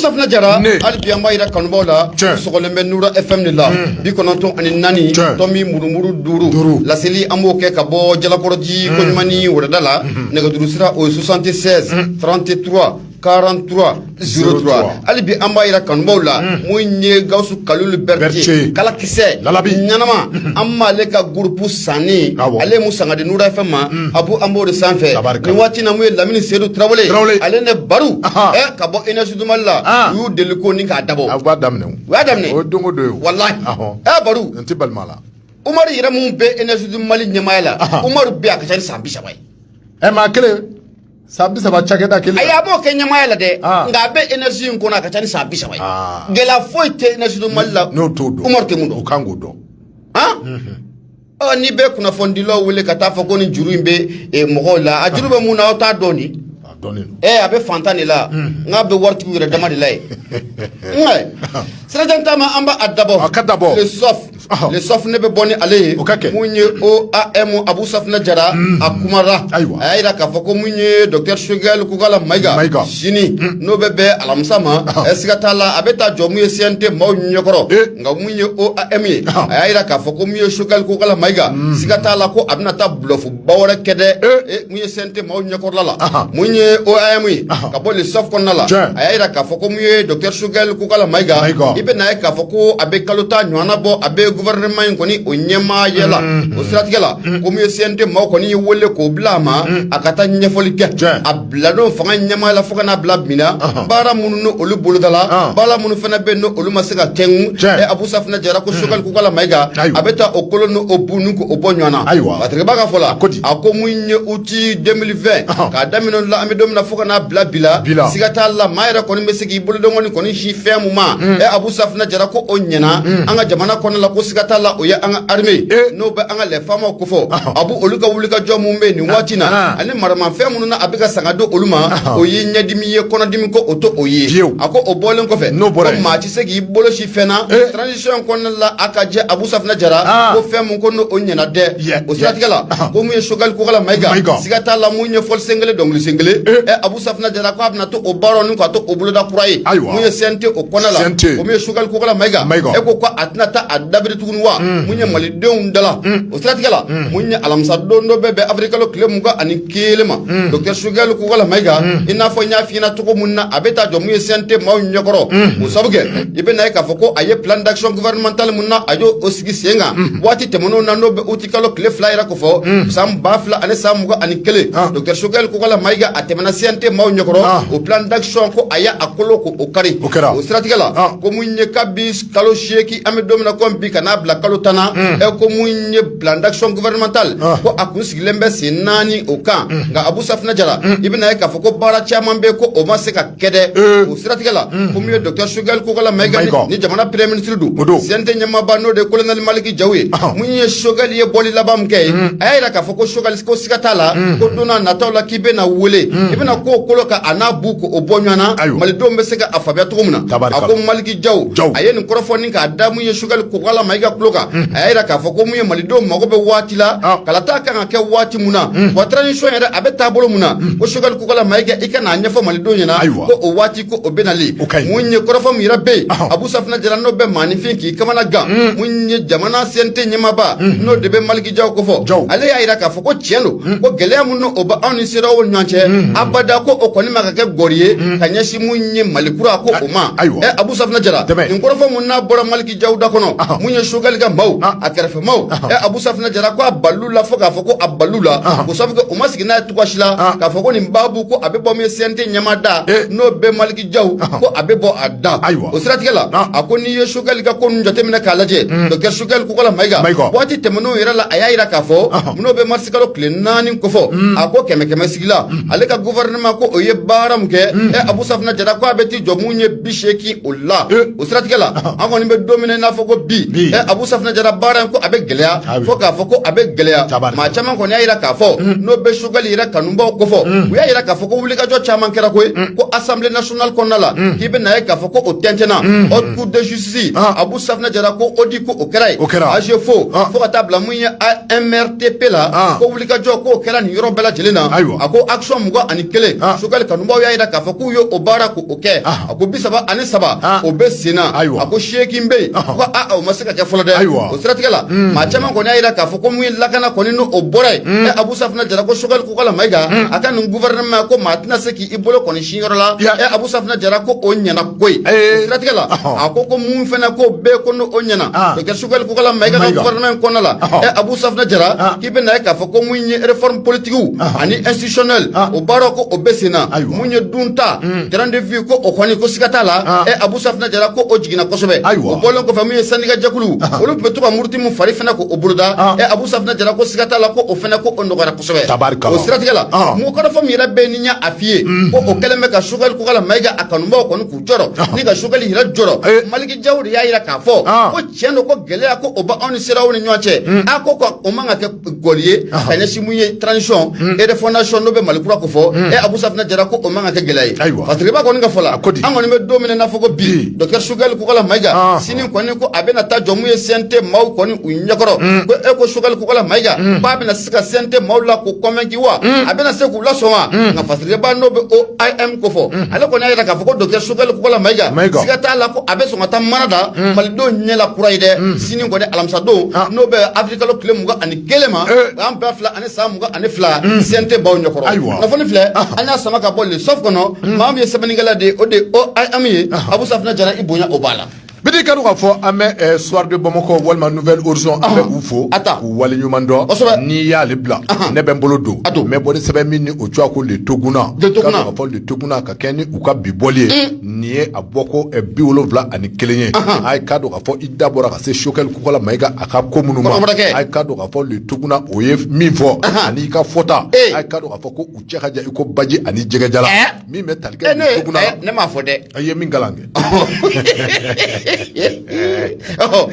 Safina Jara ne hali bi an b'a yira kanubaaw la tiɲɛ u sɔgɔlen bɛ Nura FM de la unhun 94 tiɲɛ tɔmi murumuru 5 5 laseli an b'o kɛ ka bɔɔ Jalakɔrɔjii unnn Koɲumani Wɛrɛda la unhun nɛgɛjuru sira o ye 76 unh 33 43 03 hali bi an b'a yira kanubaaw la unh mun ye Gawusu Kalulu Berete Berete kala kisɛ lalabi ɲanama unhun an b'ale ka groupe sanni awɔ ale ye mun sanga di Nura FM ma abu an b'o de sanfɛ nin waati na mun ye lamini sedu tarawele ale ni baru ka bɔ énergie du Mali la u y'u deli ko ni k'a dabɔ a daminɛ u y'a daminɛ o don don ye walayi baru n tɛ balima la umari yɛrɛ mun bɛ énergie du Mali ɲɛmaya la umari bɛ a ka ca ni san bi saba ye ɛ maa kelen san bi saba cakɛda kelen ayi a m'o kɛ ɲɛmaya la dɛ nka a bɛ énergie in kɔnɔ a ka ca ni san bi saba ye gɛlɛya foyi tɛ énergie du Mali la n'o t'o dɔn umari tɛ mun dɔn o kan k'o dɔn Ɔ ni bɛ kunnafonidilaw wele ka taa fɔ ko ni juru in bɛ mɔgɔw la a juru bɛ mun na aw t'a dɔn ni a bɛ faantan de la nka a bɛ waritigi yɛrɛ dama de la ye sirajan taama an b'a dabɔ le Soft ne bɛ bɔ ni ale ye o ka kɛ mun ye OAM abu safina jara a kumara ayiwa a y'a jira k'a fɔ ko mun ye docteur Choguel Kokala Mayiga sini n'o bɛ bɛn alamisa ma ɛ siga t'a la a bɛ taa jɔ mun ye CNT maaw ɲɛkɔrɔ nka mun ye OAM ye a y'a jira k'a fɔ ko mun ye Choguel Kokala Mayiga siga t'a la ko a bɛna taa bluff ba wɛrɛ kɛ dɛ mun ye CNT maaw ɲɛkɔrɔla la mun ye OAM ye ka bɔ le Soft kɔnɔna la a y'a jira k'a fɔ ko mun ye docteur Choguel Kokala Mayiga i bɛ na ye k'a fɔ ko a bɛ kalo tan ɲɔgɔnna bɔ a bɛ gouvernement in kɔni o ɲɛmaaya la o siratigɛ la ko mun ye CNT maaw kɔni ye wele k'o bila a ma a ka taa ɲɛfɔli kɛ a biladon fanga ɲɛmaa la fo ka n'a bila bi na baara minnu ni olu bolodala baara minnu fana bɛ yen ni olu ma se ka kɛ unhun ɛ abu safina jara ko Choguel Kokala Mayiga a bɛ taa o kolo ni o bu ni ko o bɔ ɲɔgɔn na ayiwa batigɛba ka fɔ la a ko mun ye uti 2020 k'a daminɛ o la an bɛ don min na fo ka n'a bila bi la siga t'a la maa yɛrɛ kɔni bɛ se k'i bolodon kɔni kɔni sin fɛn mun ma ɛ abu safina jara ko o ɲɛna an ka jamana kɔnɔ la ko siga t'a la o ye an ka armée n'o bɛ an ka les FAMa kofɔ abu olu ka wulikajɔ mun bɛ yen nin waati in na maramafɛn minnu a bɛ ka sanga don olu ma o ye ɲɛdimi ye kɔnɔdimi ko o to o ye a ko o bɔlen kɔfɛ n'o bɔra ko maa tɛ se k'i bolo sin fɛn na transition kɔnɔna la a ka jɛ abu safina jara ko fɛn min ko n'o ɲɛna dɛ o siratigɛ la ko mun ye Choguel Kokala Mayiga siga t'a la mun ye fɔli sen kelen dɔnkili sen kelen ɛ abu safina jara k'a bɛna to o baara ka to o boloda kura ye ayiwa mun ye CNT o kɔnɔna la ko mun ye Choguel Kokala Mayiga ɛ ko a tɛna taa a dabiri tugun wa mun ye malidenw da O siratigɛla mun ye alamisa don n'o bɛ bɛn awirili kalo tile mugan ani kelen ma docteur sogɛli kokala mayiga i n'a fɔ n y'a fɔ i ɲɛna cogo min na a bɛ taa jɔ mun ye CNT maaw ɲɛkɔrɔ o sabu kɛ i bɛ na ye k'a fɔ ko a ye plan d'action gouvernementale min na a y' o sigi sen kan waati tɛmɛnen na n'o bɛ uti kalo tile fila yɛrɛ ko fɔ san ba fila ani san mugan ani kelen docteur sogɛli kokala mayiga a tɛmɛna CNT maaw ɲɛkɔrɔ o plan d'action ko a y' a kolo ko o kari o siratigɛ la ko mun ye kabi kalo seegin an bɛ don min na kɔmi bi ka n'a bila kalo tan na ɛ ko mun ye plan d'action gouvernementale Ah. ko a kun sigilen bɛ sen naani o kan nka abu safinɛ jara i bɛna ye k'a fɔ ko baara caman bɛ yen ko o ma se ka kɛ dɛ o siratigɛ la ko min ye docteur sogɛli kokala mayiga ni- Mayiga. ni jamana premier ministre don O don. CNT ɲɛmaaba n'o de ye kolonɛli maliki jaw ye Ah. mun ye sogɛli ye bɔli laban min kɛ ye a y'a jira k'a fɔ ko sogɛli ko siga t'a la ko don n'a nataw la k'i bɛna wele i bɛna ko o kolo ka a n'a bu ko o bɔ ɲɔgɔn na Ayiwa. malidenw bɛ se ka a faamuya cogo min na a Tabarikala. ko maliki Jaw jaw a ye nin kɔrɔfɔ nin k'a da mun ye sogɛli kokala mayiga tulo kan a y'a jira k'a fɔ ko mun ye malidenw mago bɛ waati la kalata ka kan ka kɛ waati min na wa transition yɛrɛ a bɛ taabolo min na ko sogɛli kokala mayiga i ka na a ɲɛfɔ malidenw ɲɛna ayiwa o waati ko o bɛnali o ka mun ye kɔrɔfɔ min yɛrɛ bɛ yen abu safinɛ jara n'o bɛ maaninfin k'i kamana gan mun ye jamana CNT ɲɛmaaba n'o de bɛ maliki jaw ko fɔ jaw ale y'a jira k'a fɔ ko tiɲɛ don ko gɛlɛya minnu o bɛ anw ni CEDEAO ɲɔgɔn cɛ abada ko o kɔni ma ka kɛ gɔri ye ka ɲɛ Mun ye mali kura ko o ma ayiwa abu safinɛ jara nin kɔrɔfɔ min n'a bɔra maliki jaw da kɔnɔ mun ye sogɛli ka maaw a kɛrɛfɛ maaw abu safinɛ jara ko a bal'u la fo k'a fɔ ko a bal'u la ko sabu kɛ u ma sigi n'a ye cogoya si la k'a fɔ ko nin babu ko a bɛ bɔ mun ye CNT ɲɛmaa da n'o bɛ maliki jaw ko a bɛ bɔ a da ayiwa o siratigɛ la a ko n'i ye sogɛli ka ko nin jateminɛ k'a lajɛ docteur sogɛli kokala mayiga waati tɛmɛnen yɛrɛ la a y'a jira k'a fɔ n'o bɛ marisikalo tile naani ko fɔ a ko kɛmɛ kɛmɛ sigi la ale ka gouvernement ko o ye baara min kɛ ɛ abu safina jara ko a bɛ t'i jɔ mun ye bi seegin o la o siratigɛ la an kɔni bɛ don min na i n'a fɔ ko bi ɛ abu safina jara baara in ko a bɛ gɛlɛya fo k'a fɔ ko a bɛ gɛlɛya maa caman kɔni y'a yira k'a fɔ n'o bɛ sogɛli yɛrɛ kanubaw kofɔ u y'a yira k'a fɔ ko wulikajɔ caman kɛra koyi ko assemblée nationale kɔnɔna la k'i bɛ na ye k'a fɔ ko o tɛntɛnna haute cour de justice abu safina jara ko audit ko o kɛra ye AGEFAU fo ka taa bila mun ye AMRTP la ko wulikajɔ k'o kɛra nin yɔrɔ bɛɛ lajɛlen na Ayiwa. a ko action mugan ani kelen Ah. sogɛli kanubaaw y'a jira k'a fɔ k'u ye o baara ko o kɛ Ah. a ko bi saba ani saba Ah. o bɛ sen na Ayiwa. a ko seegin bɛ yen Ahan. ko aa o ma se ka kɛ fɔlɔ dɛ Ayiwa. o siratigɛ la maa caman kɔni y'a jira k'a fɔ ko mun ye lakana kɔni n'o bɔra yen ɛ abu safina jara ko sogɛli kokala mayiga a ka nin gouvernement ko maa tɛna se k'i bolokɔni sin yɔrɔ la Ya. ɛ abu safina jara ko o ɲɛna koyi Eh. o siratigɛ la Ahan. a ko ko mun fana ko bɛɛ ko n'o o ɲɛna Ah. docteur sogɛli kokala mayiga ka Mayiga. gouvernement kɔnɔna la Ahan. ɛ abu safina jara Ah. i bɛna a ye k'a fɔ ko mun ye réforme politique ani institutionnelle o baara ko o bɛ sen na mun ye dunta train de vie ko o kɔni ko siga t'a la ɛ Abu Safinɛ Jara ko o jiginna kosɛbɛ o bɔlen kɔfɛ mun ye syndicat jɛkulu olu tun bɛ to ka muruti mun fari fana ko o boloda ɛ Abu Safinɛ Jara ko siga t'a la ko o fana ko o nɔgɔyara kosɛbɛ o siratigɛ la mun kɔrɔfɔ min yɛrɛ bɛ ni y'a a f'i ye ko o kɛlen bɛ ka Sogɛli Kokala Mayiga a kanubaw kɔni k'u jɔrɔ ni ka Sogɛli yɛrɛ jɔrɔ Maliki Jaw de y'a jira k'a fɔ tiɲɛ don ko gɛlɛya ko o bɛ anw ni CEDEAO ni ɲɔgɔn cɛ a ko ko o man ka kɛ gɔli ye ka ɲɛsin mun ye transition et refondation n'o bɛ mali kura ko fɔ e abu safinɛ jara ko o man ka kɛ gɛlɛya ye Ayiwa. fasiriba kɔni ka fɔ la A ko di. an kɔni bɛ don min na i n'a fɔ ko bi Bi. docteur sogɛli kokala mayiga Ah. sini kɔni ko a bɛna taa jɔ mun ye cnt maaw kɔni u ɲɛkɔrɔ ko e ko sogɛli kokala mayiga k'a bɛna se ka CNT maaw la k'u convaincre wa a bɛna se k'u lasɔn wa nka fasiriba n'o bɛ OIM ko fɔ ale kɔni y'a jira k'a fɔ ko docteur Sogɛli Kokala Mayiga siga t'a la ko a bɛ sɔn ka taa mana da malidenw ɲɛla kura ye dɛ sini kɔni alamisadon n'o bɛ avril kalo tile mugan ani kelen ma san ba fila ani san mugan ani fila CNT maaw ɲɛkɔrɔ kunnafoni filɛ an y'a sama ka bɔ le Soft kɔnɔ maa min ye sɛbɛnnikɛla de o de OIM ye Abu Safinɛ Jara i bonya o b'a la Bi k'a dɔn k'a fɔ an bɛ Soir de Bamako walima Nouvel Horizon an bɛ u fo k'u waleɲuman dɔn n'i y'ale bila ne bɛ n bolo don a don n bɛ bɔ ni sɛbɛn min ni o tɔgɔ ye ko le toguna k'a fɔ le toguna ka kɛɲɛ ni u ka bi bɔli ye nin ye a bɔko biwolonwula ani kelen ye a ye k'a dɔn k'a fɔ i da bɔra ka se Sogɛli Kokala Mayiga a ka ko minnu ma a ye k'a dɔn k'a fɔ le toguna o ye min fɔ ani i ka fɔta a ye k'a dɔn k'a fɔ ko u cɛ ka jan i ko baji ani jɛgɛjalan min bɛ tali kɛ le toguna la, ne m'a fɔ dɛ, i ye min kalan kɛ, ɔhɔ,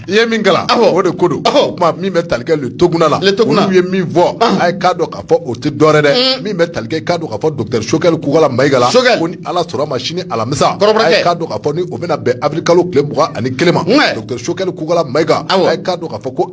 i ye min kalan, awɔ, o de ko don, ɔhɔ, o tuma min bɛ tali kɛ le toguna la, le toguna, olu ye min fɔ, ɔnhɔn, a ye k'a dɔn k'a fɔ o tɛ dɔwɛrɛ dɛ, un, min bɛ tali kɛ k'a dɔn k'a fɔ docteur Sogɛli Kokala Mayiga la, Sogɛli, ko ni Ala sɔnna ma sini alamisa, kɔrɔbɔrɔkɛ, a ye k'a dɔn k'a fɔ ni o bɛna bɛn avril kalo tile mugan ani kelen ma, un, docteur Sogɛli Kokala Mayiga, awɔ, a ye k'a dɔn k'a fɔ ko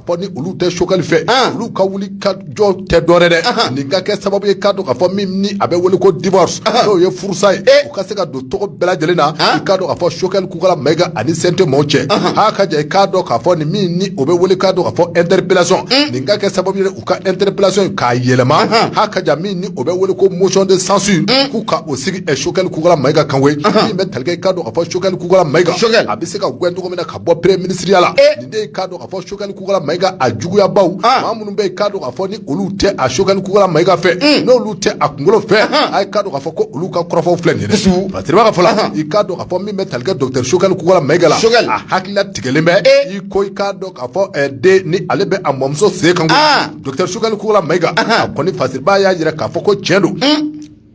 fɔ ni olu tɛ sogɛli fɛ olu ka wuli ka jɔ tɛ dɔwɛrɛ dɛ nin ka kɛ sababu ye k'a dɔn k'a fɔ min ni a bɛ wele ko divorce n'o ye furusa ye u ka se ka don tɔgɔ bɛɛ lajɛlen na i k'a dɔn k'a fɔ sogɛli kokala mayiga ani CNT maaw cɛ a ka jɛ i k'a dɔn k'a fɔ nin min ni o bɛ wele k'a dɔn k'a fɔ interpellation nin ka kɛ sababu ye u ka interpellation k'a yɛlɛma a ka jɛ min ni o bɛ wele ko motion de censure k'u ka o sigi sogɛli kokala mayiga kan koyi min bɛ tali kɛ i k'a dɔn k'a fɔ sogɛli kokala mayiga a bɛ se ka gɛn cogo min na ka bɔ premier ministre ya la nin de ye i k'a dɔn a fɔ sogɛli kokala mayiga a juguyabaaw ah. maa minnu bɛ yen k'a dɔn k'a fɔ ni olu tɛ a sogɛli kokala mayiga fɛ hmm. n'olu tɛ a kunkolo fɛ a ye k'a dɔn k'a fɔ ko olu ka kɔrɔfɔw filɛ nin ye fasiriba ka fɔ la i k'a dɔn k'a fɔ min bɛ tali kɛ docteur sogɛli kokala mayiga la a hakili latigɛlen bɛ eh. i ko i k'a dɔn k'a fɔ eh, den ni ale bɛ a mɔmuso sen kan ah. docteur sogɛli kokala mayiga a kɔni fasiriba y'a jira k'a fɔ ko tiɲɛ don hmm.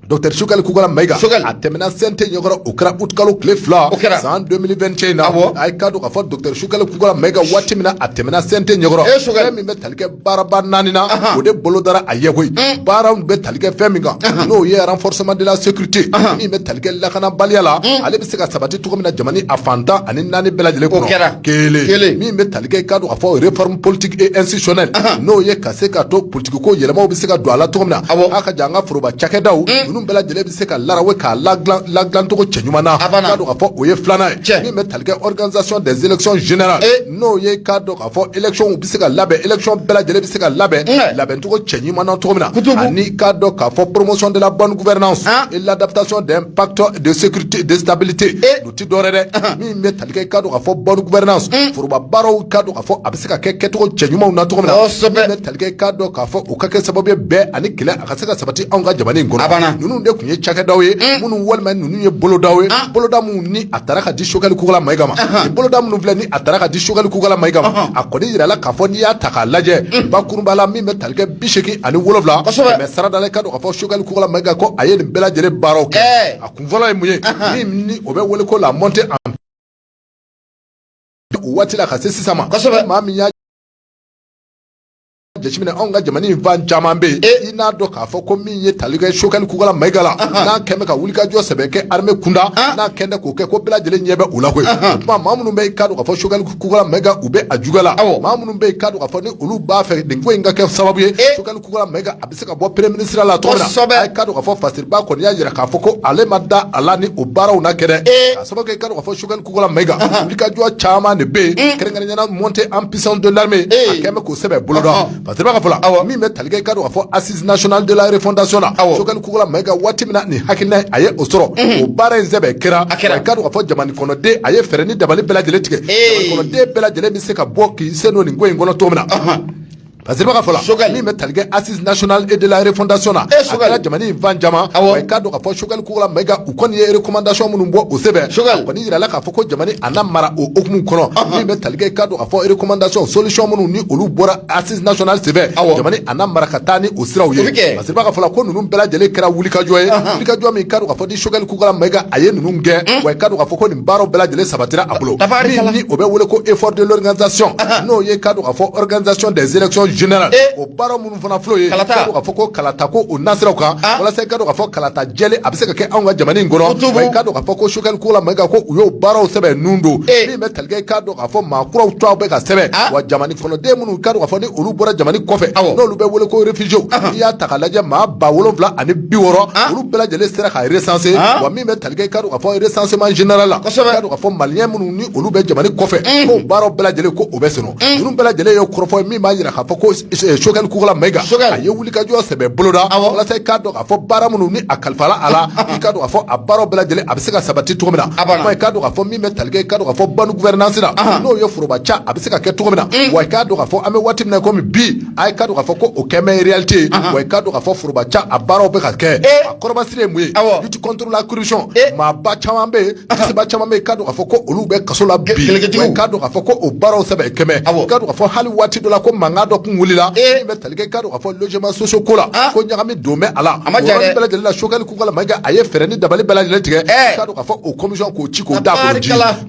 Docteur Choguel Kokalla Maïga a tɛmɛna CNT ɲɛkɔrɔ o kɛra utikalo tile fila o kɛra san 2021 na bon a ye k'a dɔn k'a fɔ docteur Choguel Kokalla Maïga waati min na a tɛmɛna CNT ɲɛkɔrɔ e kosɛbɛ min bɛ tali kɛ baaraba naani na o de bolo dara a ye koyi baaraw bɛ tali kɛ fɛn min kan n'o ye renforcement de la sécurité min bɛ tali kɛ lakanabaliya la ale bɛ se ka sabati cogo min na jamana a fan tan ani naani bɛɛ lajɛlen kɔnɔ o kɛra kelen min bɛ tali kɛ k'a dɔn k'a fɔ o ye réforme politique et institutionnelle n'o ye ka se ka to ko yɛlɛmaw bɛ se ka don a la cogo min na aw aw ka jan an ka foroba cakɛdaw mm. ninnu bɛɛ lajɛlen bɛ se ka larawe k'a ladilancogo cɛ ɲuman na k'a dɔn k'a fɔ o ye filanan ye min bɛ tali kɛ organisation des élections générales eh. n'o ye k'a dɔn k'a fɔ élections bɛ se ka labɛn élections bɛɛ lajɛlen bɛ se ka labɛn mm. labɛncogo cɛ ɲuman na cogo min na ani k'a dɔn k'a fɔ promotion de la bonne gouvernance ah. et l'adaptation d'un pacte de sécurité de stabilité eh. o tɛ dɔwɛrɛ dɛ min bɛ tali kɛ i k'a dɔn k'a fɔ bonne gouvernance foroba baaraw k'a dɔn k'a fɔ a bɛ se ka kɛ kɛcogo cɛ ɲumanw na cogo min na kosɛbɛ min bɛ tali kɛ i k'a dɔn k'a fɔ o ka kɛ sababu ye bɛn ani kelenya ka se ka sabati anw ka jamana in kɔnɔ a banna ninnu de tun ye cakɛdaw ye minnu walima ninnu ye bolodaw ye boloda minnu ni a taara ka di Choguel Kokalla Maïga ma nin boloda minnu filɛ ni a taara ka di Choguel Kokalla Maïga ma a kɔni yirala k'a fɔ n'i y'a ta k'a lajɛ bakurunba la min bɛ tali kɛ bi seegin ani wolonwula kosɛbɛ kɛmɛsarada la i k'a dɔn k'a fɔ Choguel Kokalla Maïga ko a ye nin bɛɛ lajɛlen baaraw kɛ a kun fɔlɔ ye mun ye min ni o bɛ wele ko la montée en o waati la ka se sisan ma kosɛbɛ maa min y'a jateminɛ anw ka jamana in fan caman bɛ yen e i n'a dɔn k'a fɔ ko min ye tali kɛ Choguel Kokalla Maïga la n'a kɛn bɛ ka wulikajɔ sɛbɛ kɛ armée kunda n'a kɛn tɛ k'o kɛ ko bɛɛ lajɛlen ɲɛ bɛ o la koyi o tuma maa minnu bɛ yen k'a dɔn k'a fɔ Choguel Kokalla Maïga u bɛ a juguya la maa minnu bɛ yen k'a dɔn k'a fɔ ni olu b'a fɛ nin ko in ka kɛ sababu ye Choguel a bɛ se ka bɔ premier ministre la cogo min na k'a dɔn k'a fɔ Fasiriba kɔni y'a jira k'a fɔ ko ale ma da a la ni o baaraw na kɛra e a sababu kɛ k'a fɔ Choguel Kokalla Maïga wulikajɔ caman de bɛ yen kɛrɛnkɛrɛnnenya la montée en puissance de l'armée a kɛn bɛ k'o sɛbɛ boloda Fasiriba ka fɔ la min bɛ tali kɛ k'a dɔn k'a fɔ assises nationales de la refondation na aw Choguel Kokalla Maïga waati min na nin hakilila a ye o sɔrɔ o baara in sɛbɛ kɛra a kɛra k'a dɔn k'a fɔ jamana kɔnɔden a ye fɛɛrɛ ni dabali bɛɛ lajɛlen tigɛ jamana kɔnɔden bɛɛ lajɛlen bɛ se ka bɔ k'i sen don nin ko in kɔnɔ cogo min na Fasiriba ka fɔ la kosɛbɛ min bɛ tali kɛ assises nationales et de la refondation na e kosɛbɛ jamana in fan caman i k'a dɔn k'a fɔ Choguel Kokalla Maïga u kɔni ye recommandation minnu bɔ o sɛbɛn kosɛbɛ kɔni jirala k'a fɔ ko jamana a na mara o hukumu kɔnɔ min bɛ tali kɛ i k'a dɔn k'a fɔ recommandation solution minnu ni olu bɔra assises nationales sɛbɛn jamana a na mara ka taa ni o siraw ye Fasiriba ka fɔ la ko ninnu bɛɛ lajɛlen kɛra wulikajɔ ye wulikajɔ min k'a dɔn k'a fɔ ni Choguel Kokalla Maïga a ye ninnu kɛ wa k'a dɔn k'a fɔ baaraw bɛɛ lajɛlen sabatira a bolo min ni o bɛ wele ko effort de l'organisation n'o ye k'a dɔn k'a fɔ organisation des élections générales o baara minnu fana filɛ o ye k'a dɔn k'a fɔ ko kalata ko o nasiraw kan walasa i k'a dɔn k'a fɔ kalata jɛlen a bɛ se ka kɛ anw ka jamana in kɔnɔ wa i k'a dɔn k'a fɔ ko Sogɛli Kokala Mayiga ko u y'o baaraw sɛbɛ nun don min bɛ tali kɛ i k'a dɔn k'a fɔ maa kuraw tɔw bɛ ka sɛbɛn wa jamana kɔnɔden minnu k'a dɔn k'a fɔ ni olu bɔra jamana kɔfɛ n'olu bɛ wele ko réfugiés n'i y'a ta k'a lajɛ maa ba wolonwula ani bi wɔɔrɔ olu bɛɛ lajɛlen sera ka recenser min bɛ tali kɛ i k'a dɔn k'a fɔ recensement général la, kosɛbɛ, i k'a dɔn k'a fɔ maliyɛn minnu ni olu bɛ jamana in kɔfɛ, unhun, k'o baaraw bɛɛ lajɛlen ko o bɛ senna, unhun, ninnu bɛɛ lajɛlen ye kɔrɔfɔ ye min b'a jira k'a fɔ ko Sogɛli Kokala Mayiga, Sogɛli, a ye wulikajɔ sɛbɛ boloda, awɔ, walasa i k'a dɔn k'a fɔ baara minnu ni a kalifala a la, i k'a dɔn k'a fɔ a baaraw bɛɛ lajɛlen a bɛ se ka sabati cogo min na, a banna, i k'a dɔn k'a fɔ min bɛ tali kɛ i k'a dɔn k'a fɔ bonne gouvernance la, anhan, n'o ye foroba ca a bɛ se ka kɛ cogo min na, unhun, wa i k'a dɔn k'a fɔ an bɛ waati min na komi bi a ye k'a dɔn k'a fɔ ko o kɛ mɛ réalité ye wa i k'a dɔn k'a fɔ foroba ca a baaraw bɛ ka kɛ a kɔrɔbasiri ye mun ye lutte contre la corruption maaba caman bɛ cɛba caman bɛ k'a dɔn k'a fɔ ko olu bɛ kaso la bi wa k'a dɔn k'a fɔ ko o baaraw sɛbɛ kɛ mɛ k'a dɔn k'a fɔ hali waati dɔ la ko mankan dɔ kun wulila min bɛ tali kɛ k'a dɔn k'a fɔ logements sociaux ko la ko ɲagami don bɛ a la a bɛɛ lajɛlen la Sogɛli Kokala Mayiga a ye fɛɛrɛ ni dabali bɛɛ lajɛlen tigɛ k'a dɔn k'a fɔ o commission k'o ci k'o da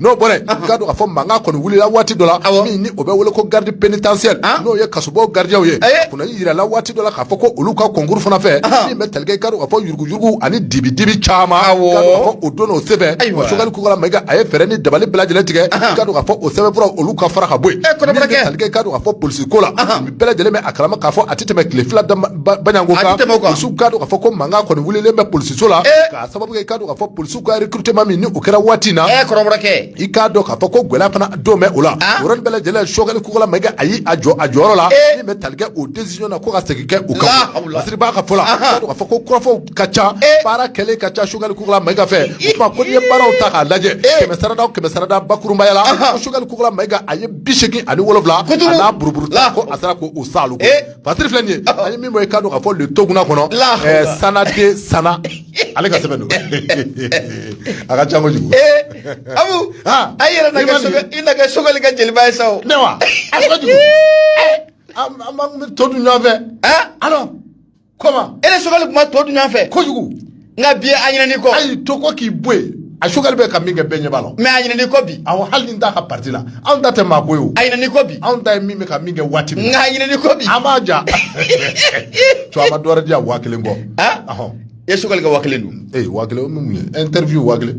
n'o bɔra yen k'a dɔn k'a fɔ mankan kɔni wulila waati dɔ la min ni o bɛ wele ko garde pénitentiaire n'o ye kasobon gardiens ye kunna yirala waati dɔ la k'a fɔ ko olu ka concours fana fɛ min bɛ tali kɛ k'a dɔn k'a fɔ yuruguyurugu ani dibidibi caman k'a dɔn k'a fɔ o donna o senfɛ Sogɛli Kokala Mayiga a ye fɛɛrɛ ni dabali bɛɛ lajɛlen tigɛ k'a dɔn k'a fɔ o sɛbɛnfuraw olu ka fara ka bɔ yen min bɛ tali kɛ k'a dɔn k'a fɔ polisi ko la an bɛɛ lajɛlen bɛ a kalama k'a fɔ a tɛ tɛmɛ tile fila saba ɲɔgɔn kan polisiw k'a dɔn k'a fɔ ko mankan kɔni wulilen bɛ polisiso la k'a sababu kɛ k'a dɔn k'a fɔ polisiw u ka recrutement min ni o kɛra waati na ɛ kɔrɔbɔrɔkɛ i k'a dɔn k'a fɔ ko gɛlɛya fana don bɛ o la o yɔrɔnin bɛɛ lajɛlen Sogɛli Kokala Mayiga a y'i jɔ a jɔyɔrɔ la min bɛ tali kɛ o décision na ko ka segin kɛ o kan fasiribaa ka fɔ la k'a fɔ ko kɔrɔfɔw ka ca baara kɛlen ka ca Sogɛli Kokala Mayiga fɛ o tuma ko n'i ye baaraw ta k'a lajɛ kɛmɛ sarada o kɛmɛ sarada bakurubaya la Sogɛli Kokala Mayiga a ye bi seegin ani wolonwula a n'a buruburu ko a sera k'o saalo Fasiri filɛ nin ye an ye min bɔ i k'a dɔn k'a fɔ le Toguna kɔnɔ Sanade Sana ale ka sɛbɛn don a ka ca kojugu Abu a yɛrɛ na kɛ Sogɛli ka jeliba ye sa ne wa a kojugu an bɛ to dun ɲɔgɔnfɛ alors comment e ni Sogɛli tun ma to dun ɲɔgɔnfɛ kojugu nka bi a ɲinɛn'i kɔ a y'i to kɔ k'i bɔ yen a Sogɛli bɛ ka min kɛ bɛɛ ɲɛ b'a la mais a ɲinɛn'i kɔ bi awɔ hali n'i t'a ka parti la anw ta tɛ maa ko ye o a ɲinɛn'i kɔ bi anw ta ye min bɛ ka min kɛ waati min nka a ɲinɛn'i kɔ bi an b'a ja tu a ma dɔ wɛrɛ di yan waa kelen ko han ɔhɔn i ye Sogɛli ka waa kelen dun ee waa kelen o min mun ye interview waa kelen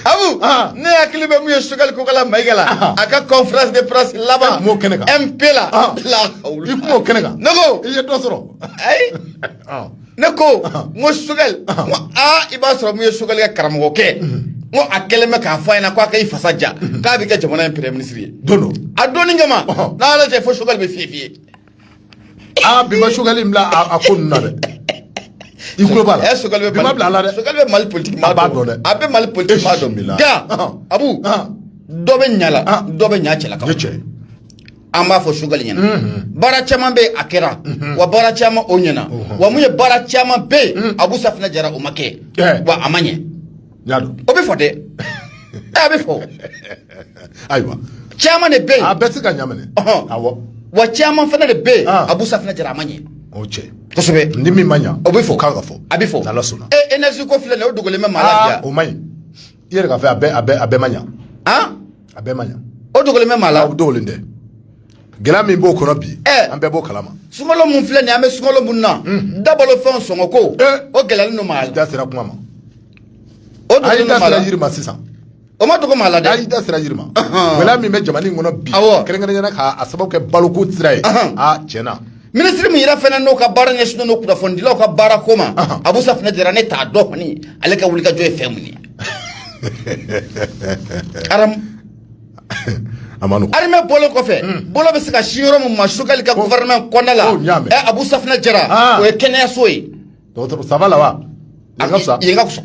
Abu Ah. ne hakili bɛ mun ye Sogɛli Kokala Mayiga la Ah. a ka conférence de presse laban m'o kɛnɛ kan. mp la Ah. la i kuma o kɛnɛ kan ne ko i ye dɔ sɔrɔ ayi ne ko n ko choguel n ko aa i b'a sɔrɔ mun ye choguel ka karamɔgɔkɛ n ko a kɛlen bɛ k'a fɔ a ɲɛna k'a ka i fasa ja k'a bɛ kɛ jamana in premier ministre ye don don a donni kama n'a y'a lajɛ fo choguel bɛ fiye fiye aa bi ma choguel in bila a ko ninnu na dɛ i tulo b'a la ɛ choguel bɛ bi ma bila a la dɛ choguel bɛ mali politiki maaba dɔn dɛ a bɛ mali politiki maa dɔn nka abu dɔ bɛ ɲa la dɔ bɛ ɲa cɛla kan an b'a fɔ choguel ɲɛna baara caman bɛ yen a kɛra wa baara caman o ɲɛna wa mun ye baara caman bɛ yen abu safinɛ jara o ma kɛ wa a ma ɲɛ o bɛ fɔ dɛ a bɛ fɔ ayiwa caman de bɛ yen a bɛɛ tɛ se ka ɲaminɛ awɔ wa caman fana de bɛ yen abu safinɛ jara a ma ɲɛ o cɛ kosɛbɛ ni min ma ɲa o bɛ fɔ k'a ka fɔ a bɛ fɔ n'ala sɔnna e énergie ko filɛ nin ye o dogolen bɛ maa la ja o man ɲi i yɛrɛ k'a fɔ a bɛɛ a bɛɛ a bɛɛ ma ɲa han a bɛɛ ma ɲa o dogolen bɛ maa la o dogolen tɛ gɛlɛya min b'o kɔnɔ bi an bɛɛ b'o kalama sunkalo mun filɛ nin an bɛ sunkalo mun na dabalo fɛnw sɔngɔ ko o gɛlɛyalen don maa la da sera kuma ma o a y'i da sera yiri ma sisan o ma dogo maa la dɛ a y'i da sera yiri ma gɛlɛya min bɛ jamana in kɔnɔ bi kɛrɛnkɛrɛnya na k'a sababu kɛ baloko sira ye a tiɲɛ na ministre min yɛrɛ fana n'o ka baara ɲɛsinnen don kunnafonidilaw ka baara ko ma abu safinɛ jara ne t'a dɔn kɔni ale ka wulikajɔ ye fɛn mun ye aramu a ma nɔgɔn armée bɔlen kɔfɛ bolo bɛ se ka sin yɔrɔ min ma choguel ka gouvernement kɔnɔna la ɛ abu safinɛ jara o ye kɛnɛyaso ye dɔgɔtɔrɔ ça va là wa a ka fisa yen ka fisa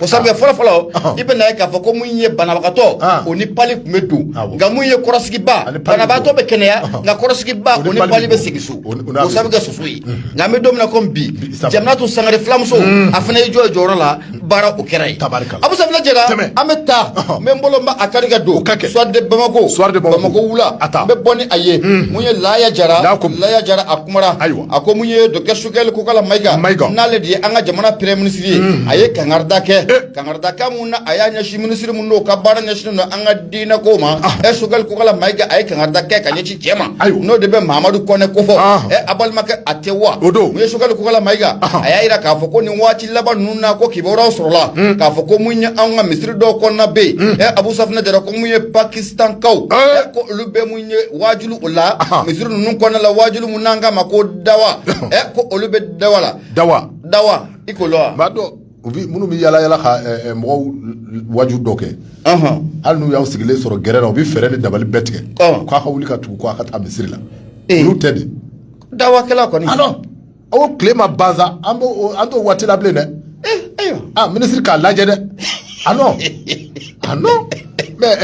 o sabu fɔlɔ fɔlɔ i bɛ na ye k'a fɔ ko mun ye banabagatɔ o ni pali tun bɛ don nka mun ye kɔrɔsigibaa banabagatɔ bɛ kɛnɛya nka kɔrɔsigibaa o ni pali bɛ segin so o sabu kɛ soso ye nka an bɛ don min na komi bi jaminatu sangare filamuso a fana y'i jɔ jɔyɔrɔ la baara o kɛra yen tabarikala Abu Safinɛ Jara tɛmɛ an bɛ taa n bɛ n bolo n b'a kari ka don ka kɛ Soir de Bamako Soir de Bamako Bamako wula a taa n bɛ bɔ ni a ye mun ye Laaya Jara Laakum Laaya Jara a kumara ayiwa a ko mun ye docteur Choguel Kokala Mayiga Mayiga n'ale de ye an ka jamana premier ministre ye a ye kangarida kɛ kangarida kan mun na a y'a ɲɛsin ministre mun n'o ka baara ɲɛsinnen don an ka diinɛ ko ma ɛ Choguel Kokala Mayiga a ye kangarida kɛ ka ɲɛsin cɛ ma ayiwa n'o de bɛ Mahamadu Kɔnɛ kofɔ ɛ a balimakɛ a tɛ wa o don mun ye Choguel Kokala Mayiga a y'a jira k'a fɔ ko nin waati laban ninnu na ko kibaruyaw sɔrɔla k'a fɔ ko mun ye an ka misiri dɔw kɔnɔna bɛ yen ɛ abu safinɛ jara ko mun ye pakistankaw ɛ ko olu bɛ mun ye waajulu o la misiri ninnu kɔnɔna la waajulu mun n'an k'a ma ko dawa ɛ ko olu bɛ dawa la dawa dawa i ko lɔ wa b'a dɔn u bi minnu bɛ yala yala ka ɛ, ɛ, mɔgɔw waaju dɔ kɛ Ɔhɔn. hali n'u y'aw sigilen sɔrɔ gɛrɛn na u bɛ fɛɛrɛ ni dabali bɛɛ tigɛ Ɔ. k'a ka wuli ka tugu u kɔ a ka taa misiri la Ee. olu tɛ de dawakɛla kɔni alɔ aw tile ma ban sa an b'o an t'o waati la bilen dɛ eh, ayiwa ah minisiri k'a lajɛ dɛ ah non ah non mais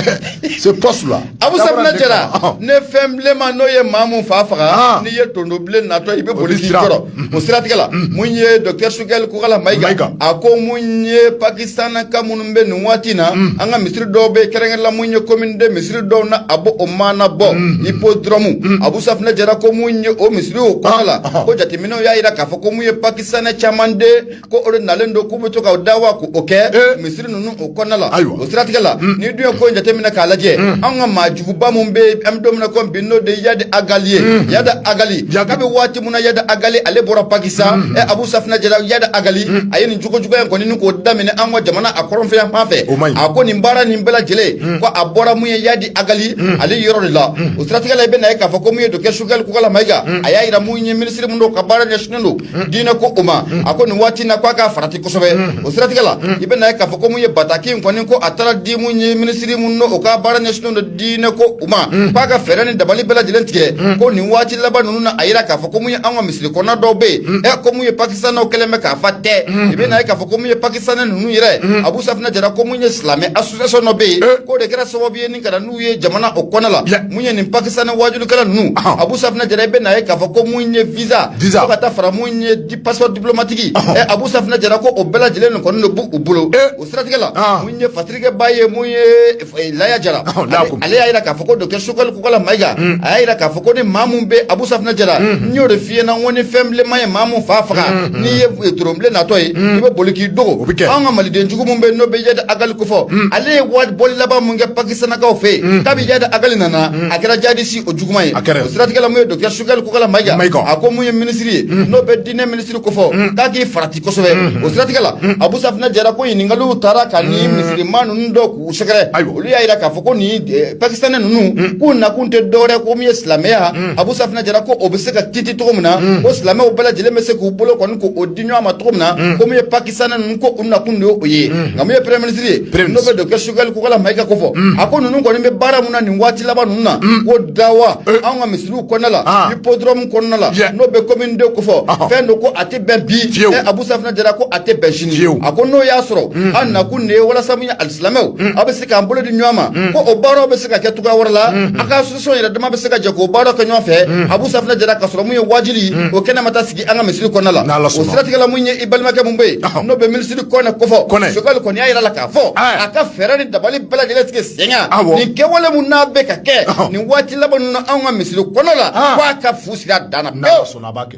ce poste là abu safinɛ jara ni fɛn bilenman n'o ye maa mun fa faga ah. n'i ye tondo bilen natɔ i bɛ boli k'i jɔrɔ mm-hmm. o siratigɛ la mm-hmm. mun ye docteur sogɛli kokala mayiga a ko mun ye pakistanaka minnu min bɛ nin waati in na an ka misiri dɔw bɛ kɛrɛnkɛrɛnnen la mun ye commune deux misiri dɔw na a bɔ o mana bɔ hippodrome abu safinɛ jara ko mun ye o misiri o kɔnɔna la ko jateminɛw y'a yira k'a fɔ ko mun ye pakistanɛ caman de ko o de nalen don k'u bɛ to ka dawa ko o kɛ misiri ninnu o kɔnɔna la o siratigɛ la n'i dun ye ko in jateminɛ k'a lajɛ an ka maajuguba min bɛ an bɛ don min na ko bi n'o de yadi agali ye yada agali kabi waati mun na yada agali ale bɔra pakistan mm -hmm. abu safina jara yada agali mm -hmm. a ye nin jogojuguya in kɔni ni k'o daminɛ an ka jamana a kɔrɔnfɛ yanfan fɛ a ko nin baara nin bɛɛ lajɛlen mm -hmm. ko a bɔra mun ye yadi agali mm -hmm. ale yɔrɔ de la mm -hmm. o siratigɛ la i bɛ na ye k'a fɔ ko mun ye docteur sogɛli kokala mayiga mm -hmm. a y'a yira mun ye minisiri min o ka baara ɲɛsinnen don mm -hmm. diinɛ ko o ma mm -hmm. a ko nin waati na ko a k'i farati kosɛbɛ mm -hmm. o siratigɛ la mm -hmm. i bɛ na ye k'a fɔ ko mun ye bataki in kɔni ko a taara di mun ye minisiri min o ka baara ɲɛsinnen don diinɛ ko o ma k'a ka fɛɛrɛ ni dabali bɛɛ lajɛlen tigɛ ko nin waati laban ninnu na a yira k'a fɔ ko mun ye an ka misiri kɔnɔna dɔw bɛ yen ɛ ko mun ye pakistanɛw kɛlen bɛ k'a fa tew i bɛ na ye k'a fɔ ko mun ye pakistanɛ ninnu yɛrɛ abu safinɛ jara ko mun ye silamɛ association dɔ bɛ yen k'o de kɛra sababu ye ni ka na n'u ye jamana o kɔnɔna la mun ye nin pakistanɛ waajulikɛla ninnu abu safinɛ jara i bɛ na ye k'a fɔ ko mun ye visa fo ka taa fara mun ye di passeport diplomatique ɛ abu safinɛ jara ko o bɛɛ lajɛlen nin kɔni de b'u bolo o siratigɛ la mun ye fatirikɛba ye mun ye Eh, laya jara oh, ale y'a yira k'a fɔ ko docteur sogɛli kokala mayiga mm. a y'a yira k'a fɔ ko ni maa min bɛ abu safinɛ jara mm-hmm. n y'o de f'i ɲɛna n ko ni fɛn bilenman ye maa min fa faga mm-hmm. n'i ye eh, toron bilen natɔ ye mm. i bɛ boli k'i dogo anw ka maliden jugu min bɛ n'o bɛ yada agali kofɔ mm. ale ye bɔli laban min kɛ pakistanakaw fɛ yen kabi yada agali nana a kɛra jihadisi o juguman ye o siratigɛ la mun ye docteur sogɛli kokala mayiga a ko mun ye minisiri ye n'o bɛ diinɛ minisiri kofɔ k'a k'i farati kosɛbɛ o siratigɛ la abu safinɛ jara ko ɲininkaliw taara ka ni misiri maa ninnu dɔw k'u sɛgɛrɛ olu y'a yira k'a fɔ ko nin pakistanɛ ninnu k'u nakun tɛ dɔwɛrɛ ko min ye silamɛya abu safinɛ jara ko o bɛ se ka jiidi cogo min na ko silamɛw bɛɛ lajɛlen bɛ se k'u bolo kɔni k'o di ɲɔgɔn ma cogo min na ko min ye pakistanɛ ninnu ko u nakun de y'o ye nka min ye premier ministre ye n'o bɛ docteur sogɛli kokala mayiga kofɔ a ko ninnu kɔni bɛ baara min na nin waati laban ninnu na ko dawa anw ka n'u kɔnɔna la hippodrome kɔnɔna la n'o bɛ commune deux kofɔ fɛn don ko a tɛ bɛn bi ɛ Abu Safinɛ Jara ko a tɛ bɛn sini a ko n'o y'a sɔrɔ mm. an nakun de ye walasa min ye alisilamɛw mm. aw bɛ se k'an bolo di ɲɔgɔn ma mm. ko o baaraw bɛ se ka kɛ cogoya wɛrɛ la a ka association yɛrɛ dama bɛ se ka jɛ k'o baaraw kɛ ɲɔgɔn fɛ Abu Safinɛ Jara ka sɔrɔ mun ye waajuli o kɛnɛ ma taa sigi an ka misiri kɔnɔna la o siratigɛ la mun ye i balimakɛ mun bɛ yen n'o bɛ minisiri kɔnɛ kofɔ Sogɛli kɔni y'a yira la k'a fɔ a ka fɛɛrɛ ni dabali bɛɛ lajɛlen tigɛ nin kɛwale min n'a bɛ ka kɛ nin waati laban ninnu na anw ka misiriw kɔnɔ la k'a ka fu siri a dan na a b'a kɛ